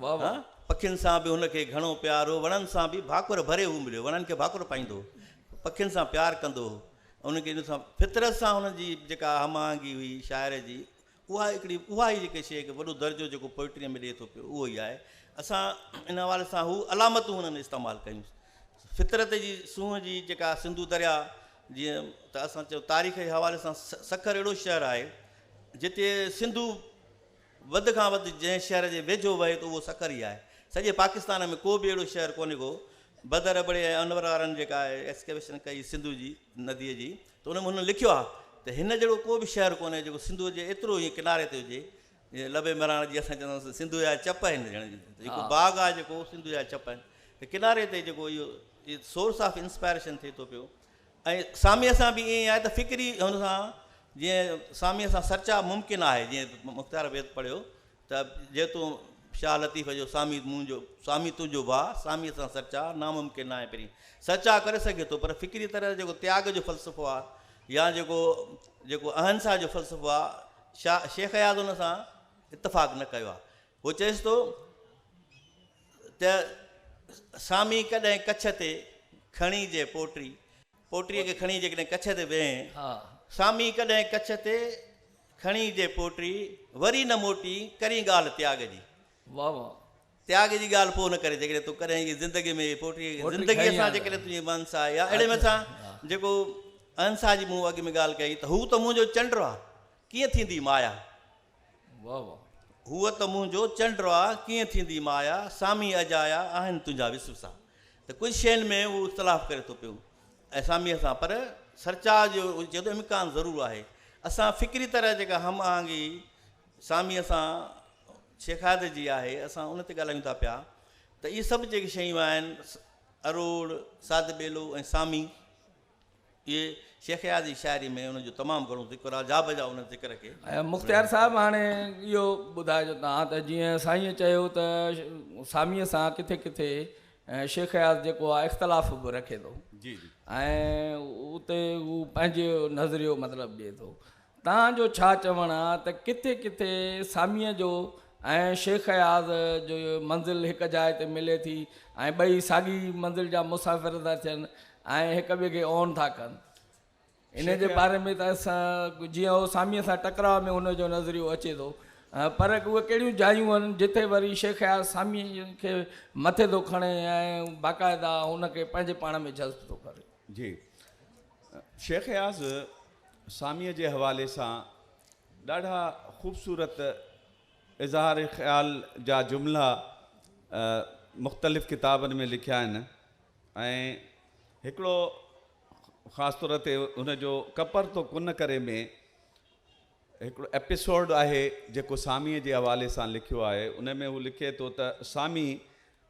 [SPEAKER 2] واهه واهه.
[SPEAKER 1] پکين سان به هن
[SPEAKER 2] کي گهڻو پيار هو. وڻن سان به ڀاڪر ڀري هو مليو. وڻن کي ڀاڪر پائيندو هو. پکين سان پيار ڪندو هو. انهن کي ان سان فطرت سان هن جي جيڪا هم آهنگي هئي شاعر جي اها هڪڙي اها ئي جيڪي شيء کي وڏو درجو جيڪو پوئٽريء ۾ ڏئي ٿو پيو اهو ئي آهي. اسان ان حوالي سان هو علامتون هنن استعمال ڪيون. فطرت جي سونهن جي جيڪا سنڌو درياء جيئن ته اسان چيو تاريخ جي حوالي سان سکر اهڙو شهر آهي جتي سنڌو وڌ کان وڌ جنهن شهر جي ويجهو وهي ته اهو سکر ئي آهي. سڄي پاڪستان ۾ ڪو به اهڙو شهر ڪونهي ڪو بدر ابڙي ۽ انور وارن جيڪا اهي ايڪسڪيويشن ڪئي سنڌو جي نديء جي ته ان ۾ هن لکيو آهي ته هن جهڙو ڪو به شهر ڪونهي جيڪو سنڌوء جي ايترو هيئن ڪناري تي هجي جيئن لبي مهراڻ جي اسان چوندا آهيون سنڌوء جا چپ آهن جڻ جي ته هڪ باغ آهي جيڪو سنڌوء جا چپ آهن ته ڪناري تي جيڪو اهو سورس آف انسپائريشن ٿئي ٿو پيو ۽ ساميء سان به ائين آهي ته فڪري هن سان جيئن ساميء سان سرچاء ممڪن آهي جيئن مختيار بيت پڙهيو ته جي تون شاهه لطيف جو سامي منهنجو سامي تنهنجو ڀاء ساميء سان سچاء ناممڪن ناهي پرين سچاء ڪري سگهي ٿو پر فڪري طرح جيڪو تياڳ جو فلسفو آ يا جيڪو جيڪو اهنسا جو فلسفو آ شاهه شيخ اياز ان سان اتفاق نه ڪيو آ هو چئيس ٿو ته سامي ڪڏهن ڪڇ تي کڻي جي پوٽري پوٽريء کي کڻي جيڪڏهن ڪڇ تي ويهين، سامي ڪڏهن ڪڇ تي کڻي جي پوٽري وري نه موٽي، ڪرين ڳالهه تياڳ جي. واهه واهه.
[SPEAKER 1] تياڳ جي ڳالهه
[SPEAKER 2] پوء نه ڪرين، جيڪڏهن تون ڪڏهن هيء زندگيء ۾ هيء پوٽريء کي زندگيء سان جيڪڏهن تنهنجي مانس آهي يا اهڙي مٿ سان جيڪو اهنسا جي مون اڳ ۾ ڳالهه ڪئي ته هو ته منهنجو چنڊ آ، ڪيئن ٿيندي مايا. واھ
[SPEAKER 1] واھ. هو ته منهنجو
[SPEAKER 2] چنڊ آ، ڪيئن ٿيندي مايا، سامي اجايا، آهن تنهنجا وسوسا. ته ڪجهه شين ۾ هو اختلاف ڪري ٿو پيو ۽ ساميء سان پر سرچاء جو چئي ٿو امڪان ضرور آهي. اسان فڪري طرح جيڪا هم آهنگي ساميء سان شيخادر جي آهي اسان ان تي ڳالهايون ٿا پيا ته اهي سڀ جيڪي شيون آهن اروڙ، ساڌ ٻيلو ۽ سامي. اهي شيخ اياز جي شاعري ۾ ان جو تمام گهڻو ذڪر آهي، جا بجا ان ذڪر کي. ۽ مختيار صاحب
[SPEAKER 1] هاڻي اهو ٻڌائجو توهان ته جيئن سائينء چيو ته ساميء سان ڪٿي ڪٿي شيخ اياز جيڪو آهي اختلاف به رکي ٿو
[SPEAKER 3] ۽
[SPEAKER 1] اتي هو پنهنجو نظريو مطلب ڏئي ٿو تان جو ڇا چوڻ آ ته ڪٿي ڪٿي ساميء جو ۽ شيخ اياز جي منزل هڪ جاء تي ملي ٿي ۽ ٻئي ساڳي منزل جا مسافر ٿا ٿين ۽ هڪ ٻئي کي اون ٿا ڪن. انهيء جي باري ۾ ته جيئن هو ساميء سان ٽڪراء ۾ هن جو نظريو اچي ٿو پر اهي ڪهڙيون جايون هن جتي وري شيخ اياز ساميء کي مٿي ٿو کڻي ۽ باقاعده هن کي پنهنجي پاڻ ۾ جذب ٿو ڪري. جي.
[SPEAKER 3] شيخ اياز ساميء جي حوالي سان ڏاڍا خوبصورت اظهار خيال جا جملا مختلف ڪتابن ۾ لکيا آهن ۽ هڪڙو خاص طور تي ان جو ڪپر تو ڪن ڪري ۾ هڪڙو ايپيسوڊ آهي جيڪو ساميء جي حوالي سان لکيو آهي ان ۾ هو لکي ٿو ته سامي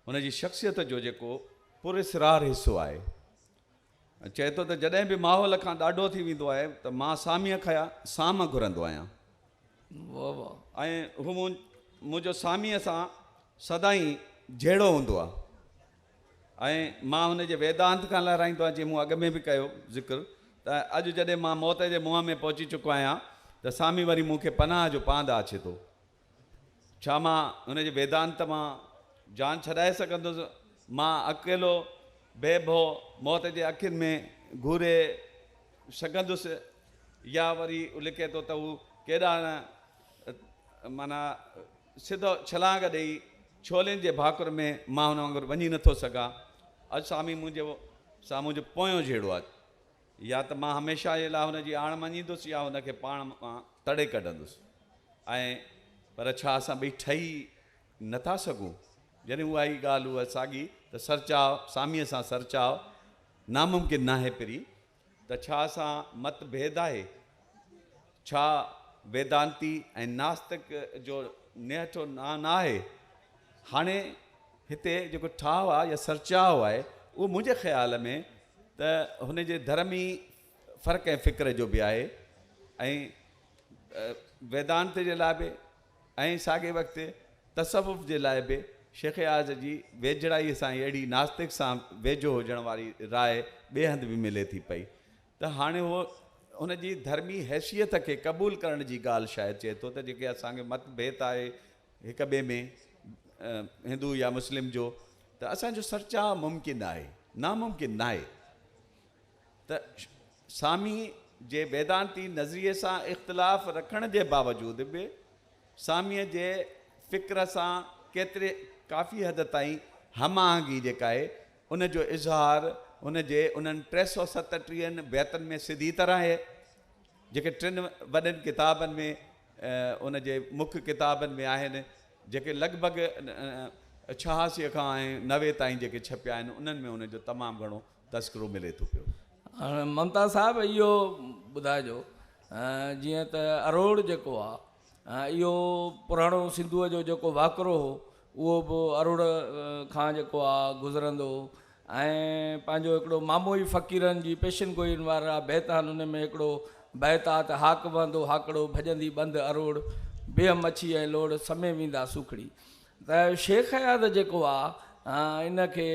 [SPEAKER 3] هن جي شخصيت جو جيڪو پراسرار حصو آهي چئي ٿو ته جڏهن به ماحول کان ڏاڍو ٿي ويندو آهي ته مان ساميء کيا سام گهرندو آهيان
[SPEAKER 1] ۽ هو
[SPEAKER 3] منهنجو ساميء سان سدائين جهيڙو هوندو آهي ۽ مان هن جي ويدانت کان لهرائيندو آهيان جيئن مون اڳ ۾ به ڪيو ذڪر ته اڄ جڏهن مان موت جي منهن ۾ پهچي چڪو آهيان ته سامي وري مون کي پناهه جو پاند آڇي ٿو ڇا مان هن جي ويدانت مان جان ڇڏائي سگهندس؟ مان اڪيلو بي ڀو موت جي اکين ۾ گهوري سگهندس؟ يا وري هو لکي ٿو ته هو ڪيڏانهن معنيٰ سڌو ڇلانگ ڏيئي ڇولين جي ڀاڪر ۾ مان هن وانگر وڃي نٿو سگهان. اڄ سامي منهنجي سامهون جو پويون جهيڙو آهي. يا ته مان هميشه جي لاء هن جي آڻ مڃيندس يا هن کي پاڻ مان تڙي ڪڍندس ۽ پر ڇا اسان ٻئي ٺهي نه ٿا سگهون؟ جڏهن اها ئي ڳالهه هئي ساڳي ته سرچاء ساميء سان سرچاء ناممڪن ناهي پرين ته ڇا اسان مت ڀيد آهي؟ ڇا ويدانتي ۽ ناستڪ جو نهٺو ناهي؟ هاڻي هتي جيڪو ٺاهه آهي يا سرچاهه آهي اهو منهنجي خيال ۾ ته هن جي ڌرمي فرق ۽ فڪر جو به آهي ۽ ويدانت جي لاء به ۽ ساڳئي وقت تصوف جي لاء به شيخ اياز جي ويجهڙائي سان اهڙي ناستڪ سان ويجهو هجڻ واري راء ٻئي هنڌ به ملي ٿي پئي. ته هاڻي هو ان جي ڌرمي حيثيت کي قبول ڪرڻ جي ڳالهه شايد چئي ٿو ته جيڪي اسان کي مت ڀيت آهي هڪ ٻئي ۾ هندو يا مسلم جو ته اسان جو سرچاء ممڪن آهي ناممڪن ناهي ته سامي جي ويدانتي نظريي سان اختلاف رکڻ جي باوجود به سامي جي فڪر سان ڪيتري ڪافي حد تائين هم آهنگي جيڪا آهي ان جو اظهار هن جي انهن ٽي سؤ ستٽيهن بيتن ۾ سڌي طرح آهي، جيڪي ٽن وڏن ڪتابن ۾ ان جي مک ڪتابن ۾ آهن، جيڪي لڳ ڀڳ ڇهاسيء کان نوي تائين جيڪي ڇپيا آهن، انهن ۾ هن جو تمام گهڻو تذڪرو ملي ٿو پيو. هاڻ ممتاز
[SPEAKER 1] صاحب اهو ٻڌائجو جيئن ته اروڙ جيڪو آهي. اهو پراڻو سنڌوء جو جيڪو واڪرو هو اهو به اروڙ کان جيڪو آ گذرندو هو ۽ پنهنجو هڪڙو مامو ئي فقيرن جي پيشن گوئين وارا بيت آهن ان ۾ هڪڙو بيت آ ته هاڪ وهندو هاڪڙو ڀڄندي ٻنڌ اروڙ بيهه مڇي ۽ لوڙ سمي ويندا سوکڙي ته شيخ اياز جيڪو آ ان کي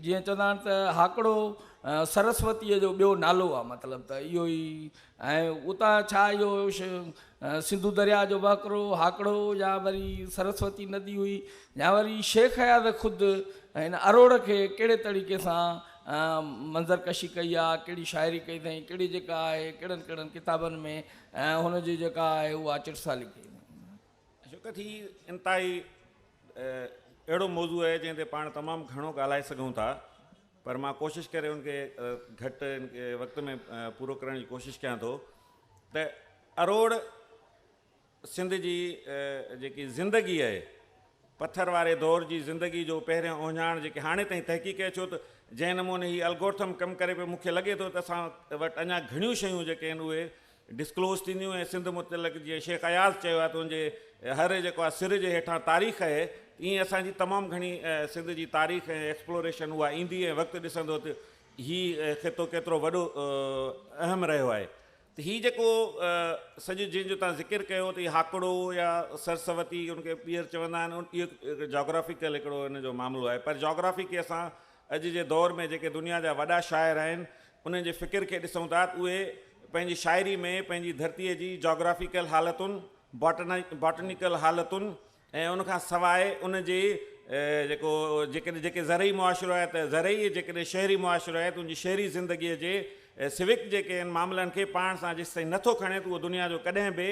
[SPEAKER 1] جيئن چوندا آهن ته هاڪڙو سرسوتيء جو ٻيو نالو آ مطلب ته اهو ئي ۽ اتان ڇا اهو سنڌو درياء جو وهڪرو هاڪڙو يا وري سرسوتي ندي هئي يا وري شيخ اياز خود هن اروڙ کي ڪهڙي طريقي سان منظر ڪشي ڪئي آ ڪهڙي شاعري ڪئي اٿئين ڪهڙي جيڪا آهي ڪهڙن ڪهڙن ڪتابن ۾ هن جي جيڪا آهي اها چٽسالي ڪئي اٿئين. عشقت
[SPEAKER 4] هي انتهائي اهڙو موضوع آهي جنهن تي پاڻ تمام گهڻو ڳالهائي سگهون ٿا پر مان ڪوشش ڪري ان کي گهٽ وقت ۾ پورو ڪرڻ جي ڪوشش ڪيان ٿو ته اروڙ سنڌ جي جيڪي زندگي آهي پٿر واري دور جي زندگي جو پهريان اوهڃاڻ جيڪي هاڻي تائين تحقيق ڪري ڇو ته جنهن نموني هي الگورٿم ڪم ڪري پيو مونکي لڳي ٿو ته اسان وٽ اڃا گهڻيون شيون جيڪي آهن اهي ڊسڪلوز ٿينديون ۽ سنڌ متعلق جيئن شيخ اياز چيو آهي ته ان جي هر جيڪو آهي سر جي هيٺان تاريخ اهي ته ائين اسان جي تمام گهڻي سنڌ جي تاريخ ۽ ايڪسپلوريشن اها ايندي ۽ وقت ڏسندو ته هي خطو ڪيترو وڏو اهم رهيو آهي ته هي جيڪو سڄو جنهن جو توهان ذڪر ڪيو ته هي هاڪڙو يا سرسوتي ان کي ٻيهر چوندا آهن اهو جاگرافيڪل هڪڙو ان جو معاملو آهي پر جاگرافي کي اسان اڄ جي دور ۾ جيڪي دنيا جا وڏا شاعر آهن، انهن جي فڪر کي ڏسون ٿا ته اهي پنهنجي شاعري ۾ پنهنجي ڌرتيء جي جاگرافيڪل حالتن، باٽنيڪل حالتن ۽ ان کان سواء ان جي جيڪو جيڪڏهن جيڪي زرعي معاشرو آهي ته زرعي جيڪڏهن شهري معاشرو آهي ته ان جي شهري زندگيء جي سوڪ جيڪي آهن معاملن کي پاڻ سان جيستائين نٿو کڻي ته اهو دنيا جو ڪڏهن به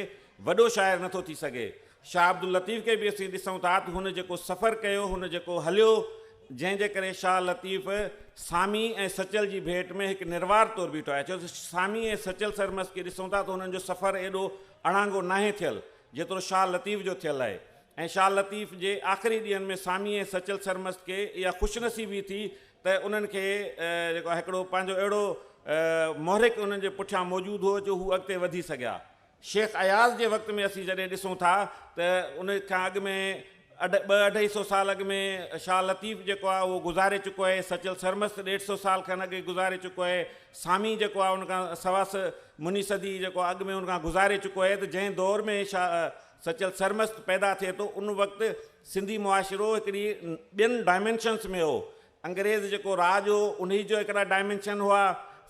[SPEAKER 4] وڏو شاعر نٿو ٿي سگهي. شاهه عبداللطيف کي به اسين ڏسون ٿا ته هن جيڪو سفر ڪيو، هن جيڪو هليو، جنهن جي ڪري شاهه لطيف سامي ۽ سچل جي ڀيٽ ۾ هڪ نروار طور بيٺو آهي ڇو ته سامي ۽ سچل سرمست کي ڏسون ٿا ته هنن جو سفر ايڏو اڻانگو ناهي ٿيل جيترو شاهه لطيف جو ٿيل آهي ۽ شاهه لطيف جي آخري ڏينهن ۾ سامي ۽ سچل سرمست کي اها خوش نصيبي ٿي ته انهن کي جيڪو آهي هڪڙو پنهنجو اهڙو محرڪ انهن جي پٺيان موجود هو جو هو اڳتي وڌي سگهيا. شيخ اياز جي وقت ۾ اسين جڏهن ڏسون ٿا ته ان کان اڳ ۾ اڍ ٻه اڍائي سو سال اڳ ۾ شاهه لطيف جيڪو آهي اهو گذاري چڪو آهي، سچل سرمست ڏيڍ سو سال کن اڳ گذاري چڪو آهي، سامي جيڪو آهي ان کان سوا سئه مني صدي جيڪو اڳ ۾ ان کان گذاري چڪو آهي ته جنهن دور ۾ شاهه سچل سرمست پيدا ٿئي ٿو ان وقت سنڌي معاشرو هڪڙي ٻين ڊائمينشنس ۾ هو انگريز جيڪو راڄ هو انهي جو هڪڙا ڊائمينشن هئا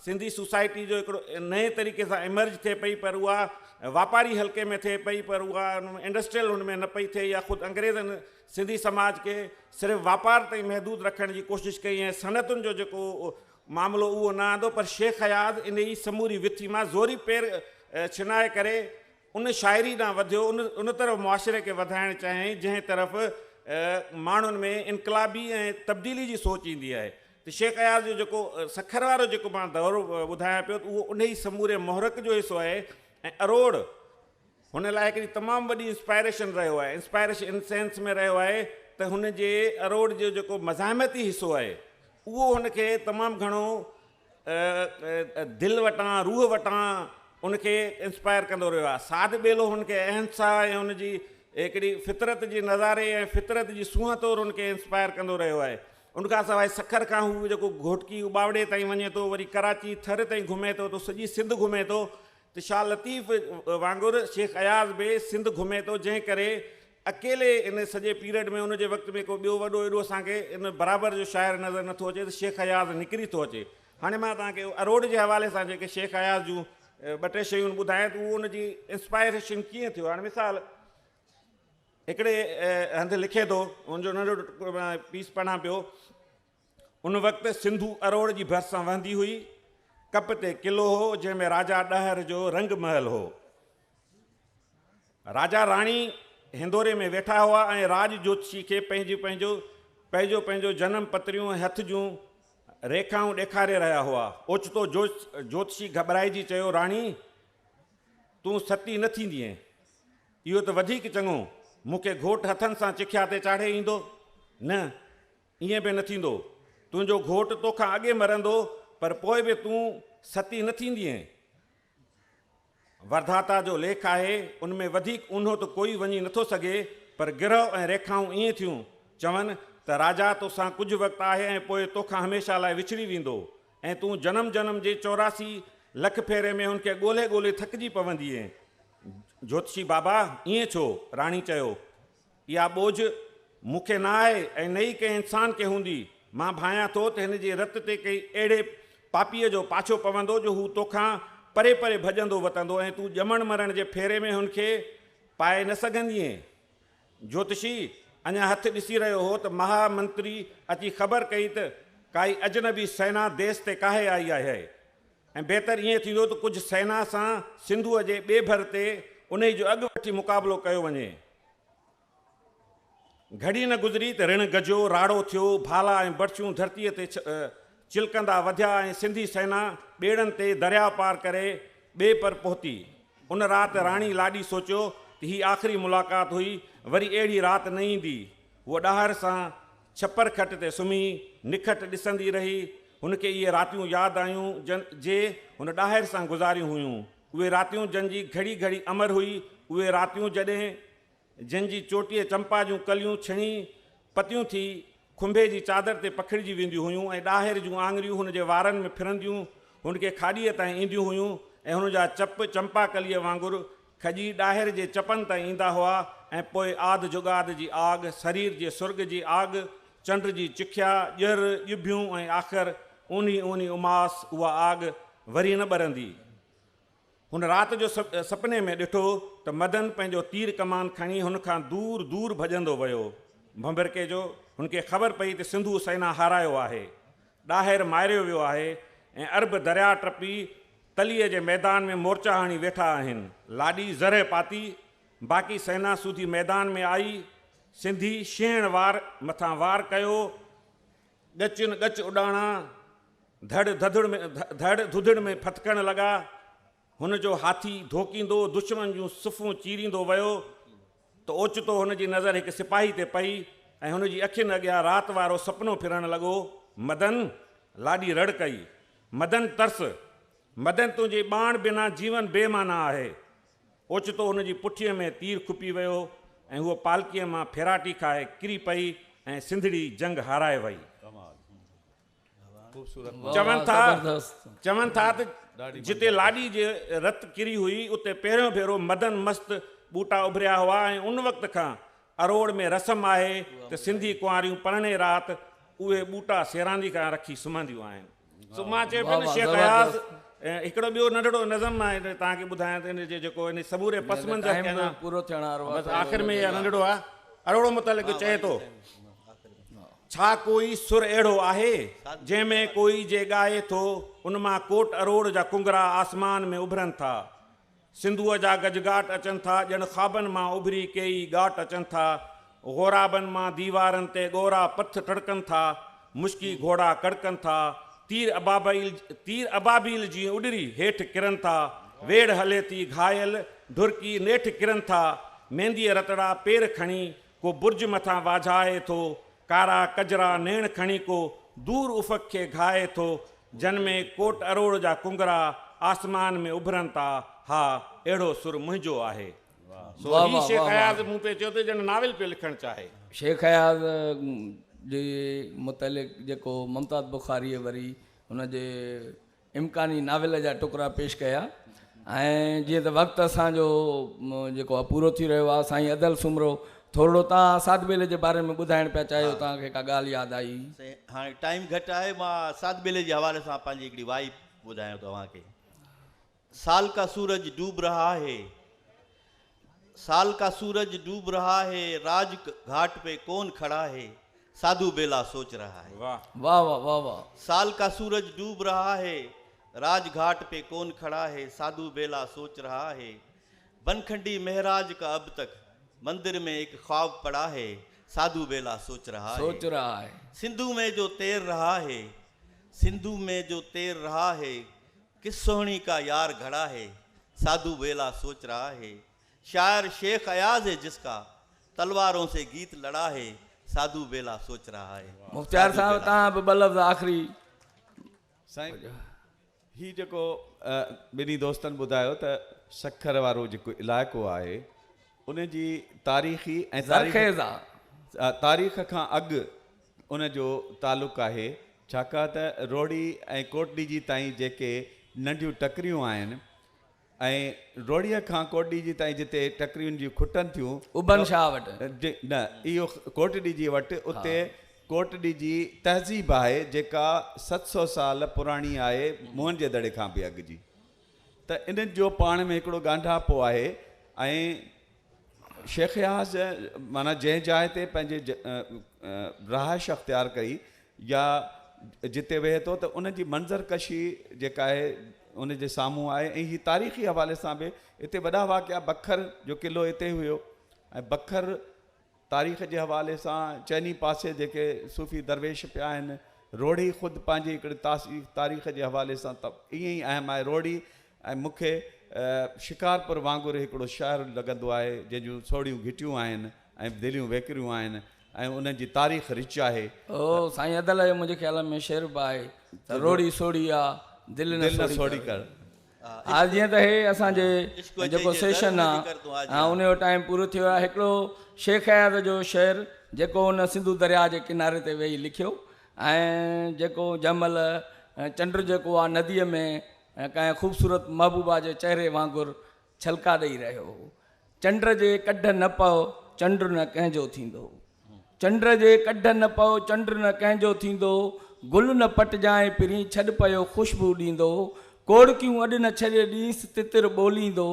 [SPEAKER 4] سنڌي سوسائٽي جو هڪڙو نئين طريقي سان ايمرج ٿئي پئي پر اها واپاري حلقي ۾ ٿئي پئي پر اها انڊسٽريل هن ۾ نه پئي ٿئي يا خود انگريزن سنڌي سماج کي صرف واپار تائين محدود رکڻ جي ڪوشش ڪئي ۽ صنعتن جو جيڪو معاملو اهو نه آندو پر شيخ اياز انهي سموري وٿي مان زوري پير ڇنائي ڪري ان شاعري ڏانهن وڌيو، ان ان طرف معاشري کي وڌائڻ چاهيائين، جنهن طرف ماڻهن ۾ انقلابي ۽ تبديلي جي سوچ ايندي آهي ته شيخ اياز جو جيڪو سکر وارو جيڪو مان دور ٻڌايان پيو ته اهو انهي سموري محرڪ جو حصو آهي ۽ اروڙ هن لاء هڪڙي تمام وڏي انسپائريشن رهيو آهي، انسپائريشن ان سينس ۾ رهيو آهي ته هن جي اروڙ جو جيڪو مزاحمتي حصو آهي اهو هن کي تمام گهڻو دل وٽان، روح وٽان ان کي انسپائر ڪندو رهيو آهي. سعد ٻيلو هن کي اهنسا ۽ ان جي هڪڙي فطرت جي نظاري ۽ فطرت جي سونهن طور ان کي انسپائر ڪندو رهيو آهي. ان کان سواء سکر کان هو جيڪو گهوٽڪي اٻاوڙي تائين وڃي ٿو، وري ڪراچي ٿر تائين گهمي ٿو ته سڄي سنڌ گهمي ٿو ته شاهه لطيف وانگر شيخ اياز به سنڌ گهمي ٿو جنهن ڪري اڪيلي ان سڄي پيرڊ ۾ ان جي وقت ۾ ڪو ٻيو وڏو ايڏو اسان کي ان برابر جو شاعر نظر نٿو اچي ته شيخ اياز نڪري ٿو اچي. هاڻي مان توهان کي اروڙ جي حوالي سان جيڪي شيخ اياز جون ٻه ٽي شيون ٻڌايان ته اهو ان جي انسپائريشن ڪيئن ٿيو. هاڻي مثال هڪڙي هنڌ لکي ٿو ان جو ننڍو پيس پڙهان پيو ان وقت سنڌو اروڙ جي ڀرسان وهندي هئي. ڪپ تي قلعو هو، جنهن ۾ راجا ڏهر جو رنگ محل هو. راجا راڻي هندوري ۾ ويٺا هئا ۽ راڄ جوتشي کي پنهنجو پنهنجو پنهنجو پنهنجو جنم پتريون ۽ هٿ جون ريکائون ڏيکاري رهيا هئا. اوچتو جوتشي گهٻرائجي چيو، راڻي! تون ستي نه ٿيندينء. اهو ته وڌيڪ چڱو، مون کي گهوٽ هٿن سان چکيا تي چاڙهي ايندو. نه! ائين به نه ٿيندو. تنهنجو گهوٽ تو کان اڳي مرندو، پر پوء به تون ستي نه ٿيندينء. وردهاتا جو ليک آهي، ان ۾ وڌيڪ اونهو ته ڪوئي وڃي نه ٿو سگهي، پر گرهه ۽ ريکائون ائين ٿيون چون ته راجا تو سان ڪجهه وقت آهي ۽ پوء تو کان هميشه لاء وڇڙي ويندو ۽ تون جنم جنم جي چوراسي لک ڦيري ۾ هن کي ڳولهي ڳولهي ٿڪجي پوندينء. جوتشي بابا، ائين ڇو؟ راڻي چيو. اها ٻوجهه مون کي نه آهي ۽ نه ئي ڪنهن انسان کي هوندي. مان ڀانيان ٿو ته هن جي رت تي ڪنهن اهڙي پاپيء جو پاڇو پوندو جو هو توکان پري پري ڀڄندو وتندو ۽ تون ڄمڻ مرڻ جي ڦيري ۾ هن کي پائي نه سگهندينء. جوتشي اڃا هٿ ڏسي رهيو هو ته مها منتري اچي خبر ڪئي ته ڪائي اجنبي سينا ديس تي ڪاهي آئي آهي. ۽ بهتر ائين ٿيندو ته ڪجهه سينا سان سنڌوء جي ٻئي ڀر تي انهيء جو اڳ وٺي مقابلو ڪيو وڃي. گهڙي نه گذري ته رڻ گجيو، راڙو ٿيو، ڀالا ۽ برڇيون ڌرتيء تي چلڪندا وڌيا ۽ سنڌي سينا ٻيڙن تي درياء پار ڪري ٻئي پر پهتي. ان رات راڻي لاڏي سوچيو ته هي آخري ملاقات هئي، وري اهڙي رات نه ايندي. هوء ڏاهر سان ڇپر کٽ تي سمهي نکٽ ڏسندي رهي. هن کي اهي راتيون ياد آيون جن جي هن ڏاهر سان گذاريون هيون. اهي راتيون جن جي گهڙي گهڙي امر هئي. اهي راتيون جڏهن جن جي چوٽيء چمپا جون ڪليون ڇڻي پتيون ٿي کنڀي جي چادر تي پکڙجي وينديون هيون ۽ ڏاهر جون آڱريون هن جي وارن ۾ ڦرنديون هن کي کاڏيء تائين اينديون هيون ۽ هن جا چپ چمپا ڪليء وانگر کڄي ڏاهر جي چپن تائين ايندا هئا ۽ پوء آڌ جغاد جي آڳ، سرير جي سرڳ جي آڳ، چنڊ جي چکيا، ڄر، ڄڀيون ۽ آخر اونهي اونهي اماس اها آڳ وري نه ٻرندي. هن رات جو سپني ۾ ڏٺو ته مدن پنهنجو تير ڪمان کڻي هن کان دور دور ڀڄندو ويو. ڀنڀرڪي جو هن کي خبر پئي ته سنڌو سينا هارايو آهي. ڏاهر ماريو ويو آهي ۽ عرب درياء ٽپي تليء جي ميدان ۾ مورچا هڻي ويٺا آهن. لاڏي زرهه پاتي، باقي سينا سوڌي ميدان ۾ آئي، سنڌي شينهڻ وار مٿان وار ڪيو، ڳچين ڳچ اڏاڻا، ڌڙ ڌڌڙ ڌڙ ڌڌڙ ۾ ڦٿڪڻ لڳا. هن جو هاٿي ڌوڪيندو دشمن جون صفون چيريندو ويو ته اوچتو هن جي نظر هڪ سپاهي تي پئي ۽ هن جي اکين اڳيان رات وارو سپنو ڦرڻ لڳو مدن! لاڏي رڙ ڪئي. مدن ترس! مدن تنهنجي ٻانهن بنا جيون بي معنيٰ آهي. اوچتو هن جي پٺيء ۾ تير کپي ويو ۽ هوء پالڪيء مان ڦيراٽي کائي ڪري پئي ۽ سنڌڙي جنگ هارائي وئي. چون ٿا چون ٿا ته جتي لاڏي جي رت ڪري هئي اتي پهريون ڀيرو مدن مست ٻوٽا اڀريا هئا ۽ ان وقت کان اروڙ ۾ رسم آهي ته سنڌي ڪنواريون پرڻي رات اهي ٻوٽا سيراندي کان رکي سمهنديون آهن سو مان چيو پيو ته شيخ اياز هڪڙو ٻيو ننڍڙو نظم مان توهان کي ٻڌايان ته ان جي جيڪو ان سموري پس منظر کي اڃا
[SPEAKER 1] بس آخر ۾ اها ننڍڙو
[SPEAKER 4] آهي اروڙ متعلق چئي ٿو ڇا ڪوئي سر اهڙو آهي، جنهن ۾ ڪوئي جي ڳائي ٿو، ان مان ڪوٽ اروڙ جا ڪنگرا آسمان ۾ اڀرن ٿا. سنڌوء جا گجگاٽ اچن ٿا، ڄڻ خوابن مان اڀري ڪيئي ڳاٽ اچن ٿا. غورابن مان ديوارن تي ڳورا پٿ ٽڙڪن ٿا، مشڪي گهوڙا ڪڙڪن ٿا، تير ابابيل تير ابابيل جيئن اڏري هيٺ ڪرن ٿا، ويڙهه هلي ٿي گهايل ڍورڪي نيٺ ڪرن ٿا، مينديء رتڙا پير کڻي ڪو برج مٿان واجهائي ٿو، ڪارا ڪجرا نيڻ کڻي ڪو دور افق کي گهائي ٿو، جن ۾ ڪوٽ اروڙ جا ڪنگرا آسمان ۾ اڀرن ٿا، ها اهڙو سر منهنجو آهي. سو واھ هي واھ شيخ واھ اياز واھ. مون پئي چيو ته ڄڻ ناول پيو لکڻ چاهي. شيخ اياز
[SPEAKER 1] جي متعلق جيڪو ممتاز بخاريء وري هن جي امڪاني ناول جا ٽڪرا پيش ڪيا ۽ جيئن ته وقت اسان جو جيڪو آ پورو ٿي رهيو آ سائين ادل سومرو ٿورڙو تان ساڌ ٻيلي جي باري ۾ ٻڌائڻ پيا چاهيو تان کي ڪا ڳالهه ياد آئي؟ سائين هاڻي ٽائيم
[SPEAKER 2] گهٽ آهي مان ساڌ ٻيلي جي حوالي سان پنهنجي هڪڙي وائي ٻڌايان توهان کي سال ڪا سورج ڊوب رها هي سال ڪا سورج ڊوب رها هي راج گهاٽ پي ڪون کڙا هي ساڌو بيلا سوچ رها هي. واھ. واھ واھ واھ
[SPEAKER 4] واھ.
[SPEAKER 1] سال ڪا سورج
[SPEAKER 2] ڊوب رها هي راج گهاٽ پي ڪون کڙا هي ساڌو بيلا سوچ رها هي بنکنڊي مهراج ڪا اب تڪ مندر مين ايڪ خواب پڙا هي ساڌو بيلا سوچ رها هي سوچ رها هي. سنڌو مين جو تير رها هي سنڌو مين جو تير رها هي ڪس سهڻي ڪا يار گهڙا هي، ساڌو ويلا سوچ رها هي، شاعر شيخ اياز هي جس ڪا، تلوارون سي گيت لڙا هي، ساڌو ويلا سوچ رها هي. مختيار صاحب توهان
[SPEAKER 1] به ٻه لفظ آخري.
[SPEAKER 3] سائين هي جيڪو ٻنهي دوستن ٻڌايو ته سکر وارو جيڪو علائقو آهي ان جي تاريخي ۽ تاريخ کان اڳ ان جو تعلق آهي ڇاڪاهن ته روهڙي ۽ ڪوٽڏيجي تائين جيڪي ننڍيون ٽڪريون آهن ۽ روهڙيء کان ڪوٽڏيجي تائين جتي ٽڪرين جون کٽن ٿيون ابن شاهه وٽ
[SPEAKER 1] جي نه اهو
[SPEAKER 3] ڪوٽڏيجي وٽ ها. اتي ڪوٽڏيجي تهذيب آهي جيڪا ست سؤ سال پراڻي آهي موهن جي دڙي کان به اڳ جي ته انهن جو پاڻ ۾ هڪڙو ڳانڍاپو آهي ۽ شيخ اياز معنيٰ جنهن جاء تي پنهنجي رهائش اختيار ڪئي يا جتي ويهي ٿو ته ان جي منظر ڪشي جيڪا آهي ان جي سامهون آهي ۽ هي تاريخي حوالي سان به هتي وڏا واقعا بکر جو قلعو هتي هيو ۽ بکر تاريخ جي حوالي سان چئني پاسي جيڪي صوفي درويش پيا آهن، روهڙي خود پنهنجي هڪڙي تاريخ جي حوالي سان ته ائين ئي اهم آهي. روهڙي ۽ مون کي شڪارپور وانگر هڪڙو شهر لڳندو آهي، جنهن جون سوڙهيون گهٽيون آهن ۽ دليون ويڪريون آهن ۽ انهن جي تاريخ رچ آهي. او سائين ادل
[SPEAKER 1] اهو منهنجي خيال ۾ شعر به آهي ته روهڙي سوڙهي آ، دل نه سوڙهي ڪر. آهي جيئن ته هي اسان جي جيڪو سيشن آ ان جو ٽائيم پورو ٿي ويو آهي هڪڙو شيخ اياز جو شعر جيڪو هن سنڌو درياء جي ڪناري تي ويهي لکيو ۽ جيڪو جنهن مهل چنڊ جيڪو آ نديء ۾ ڪنهن خوبصورت محبوبا جي چهري وانگر ڇلڪا ڏئي رهيو هو چنڊ جي ڪڍ نه پئو، چنڊ نه ڪنهن جو ٿيندو. چنڊ جي ڪڍ نه پئو، چنڊ نه ڪنهن جو ٿيندو. گل نه پٽجانء پرين، ڇڏ پيو خوشبو ڏيندو. ڪوڙڪيون اڏ نه ڇڏ، ڏينس تتر ٻوليندو.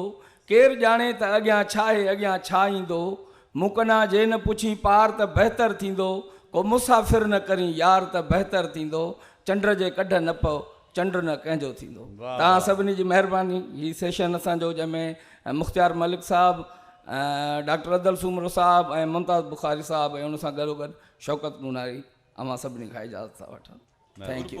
[SPEAKER 1] ڪير ڄاڻي ته اڳيان ڇا آهي، اڳيان ڇا ايندو. مون ڪنان جي نه پڇين پار ته بهتر ٿيندو. ڪو مسافر نه ڪرين يار ته بهتر ٿيندو. چنڊ جي ڪڍ نه پئو، چنڊ نه ڪنهن جو ٿيندو. توهان سڀني جي مهرباني هي سيشن اسان جو جنهن ۾ مختيار ملڪ صاحب ڊاڪٽر ادل سومرو صاحب ۽ ممتاز بخاري صاحب ۽ ان سان گڏو گڏ شوڪت نوناري اوهان سڀني کان اجازت ٿا وٺن ٿينڪ يو.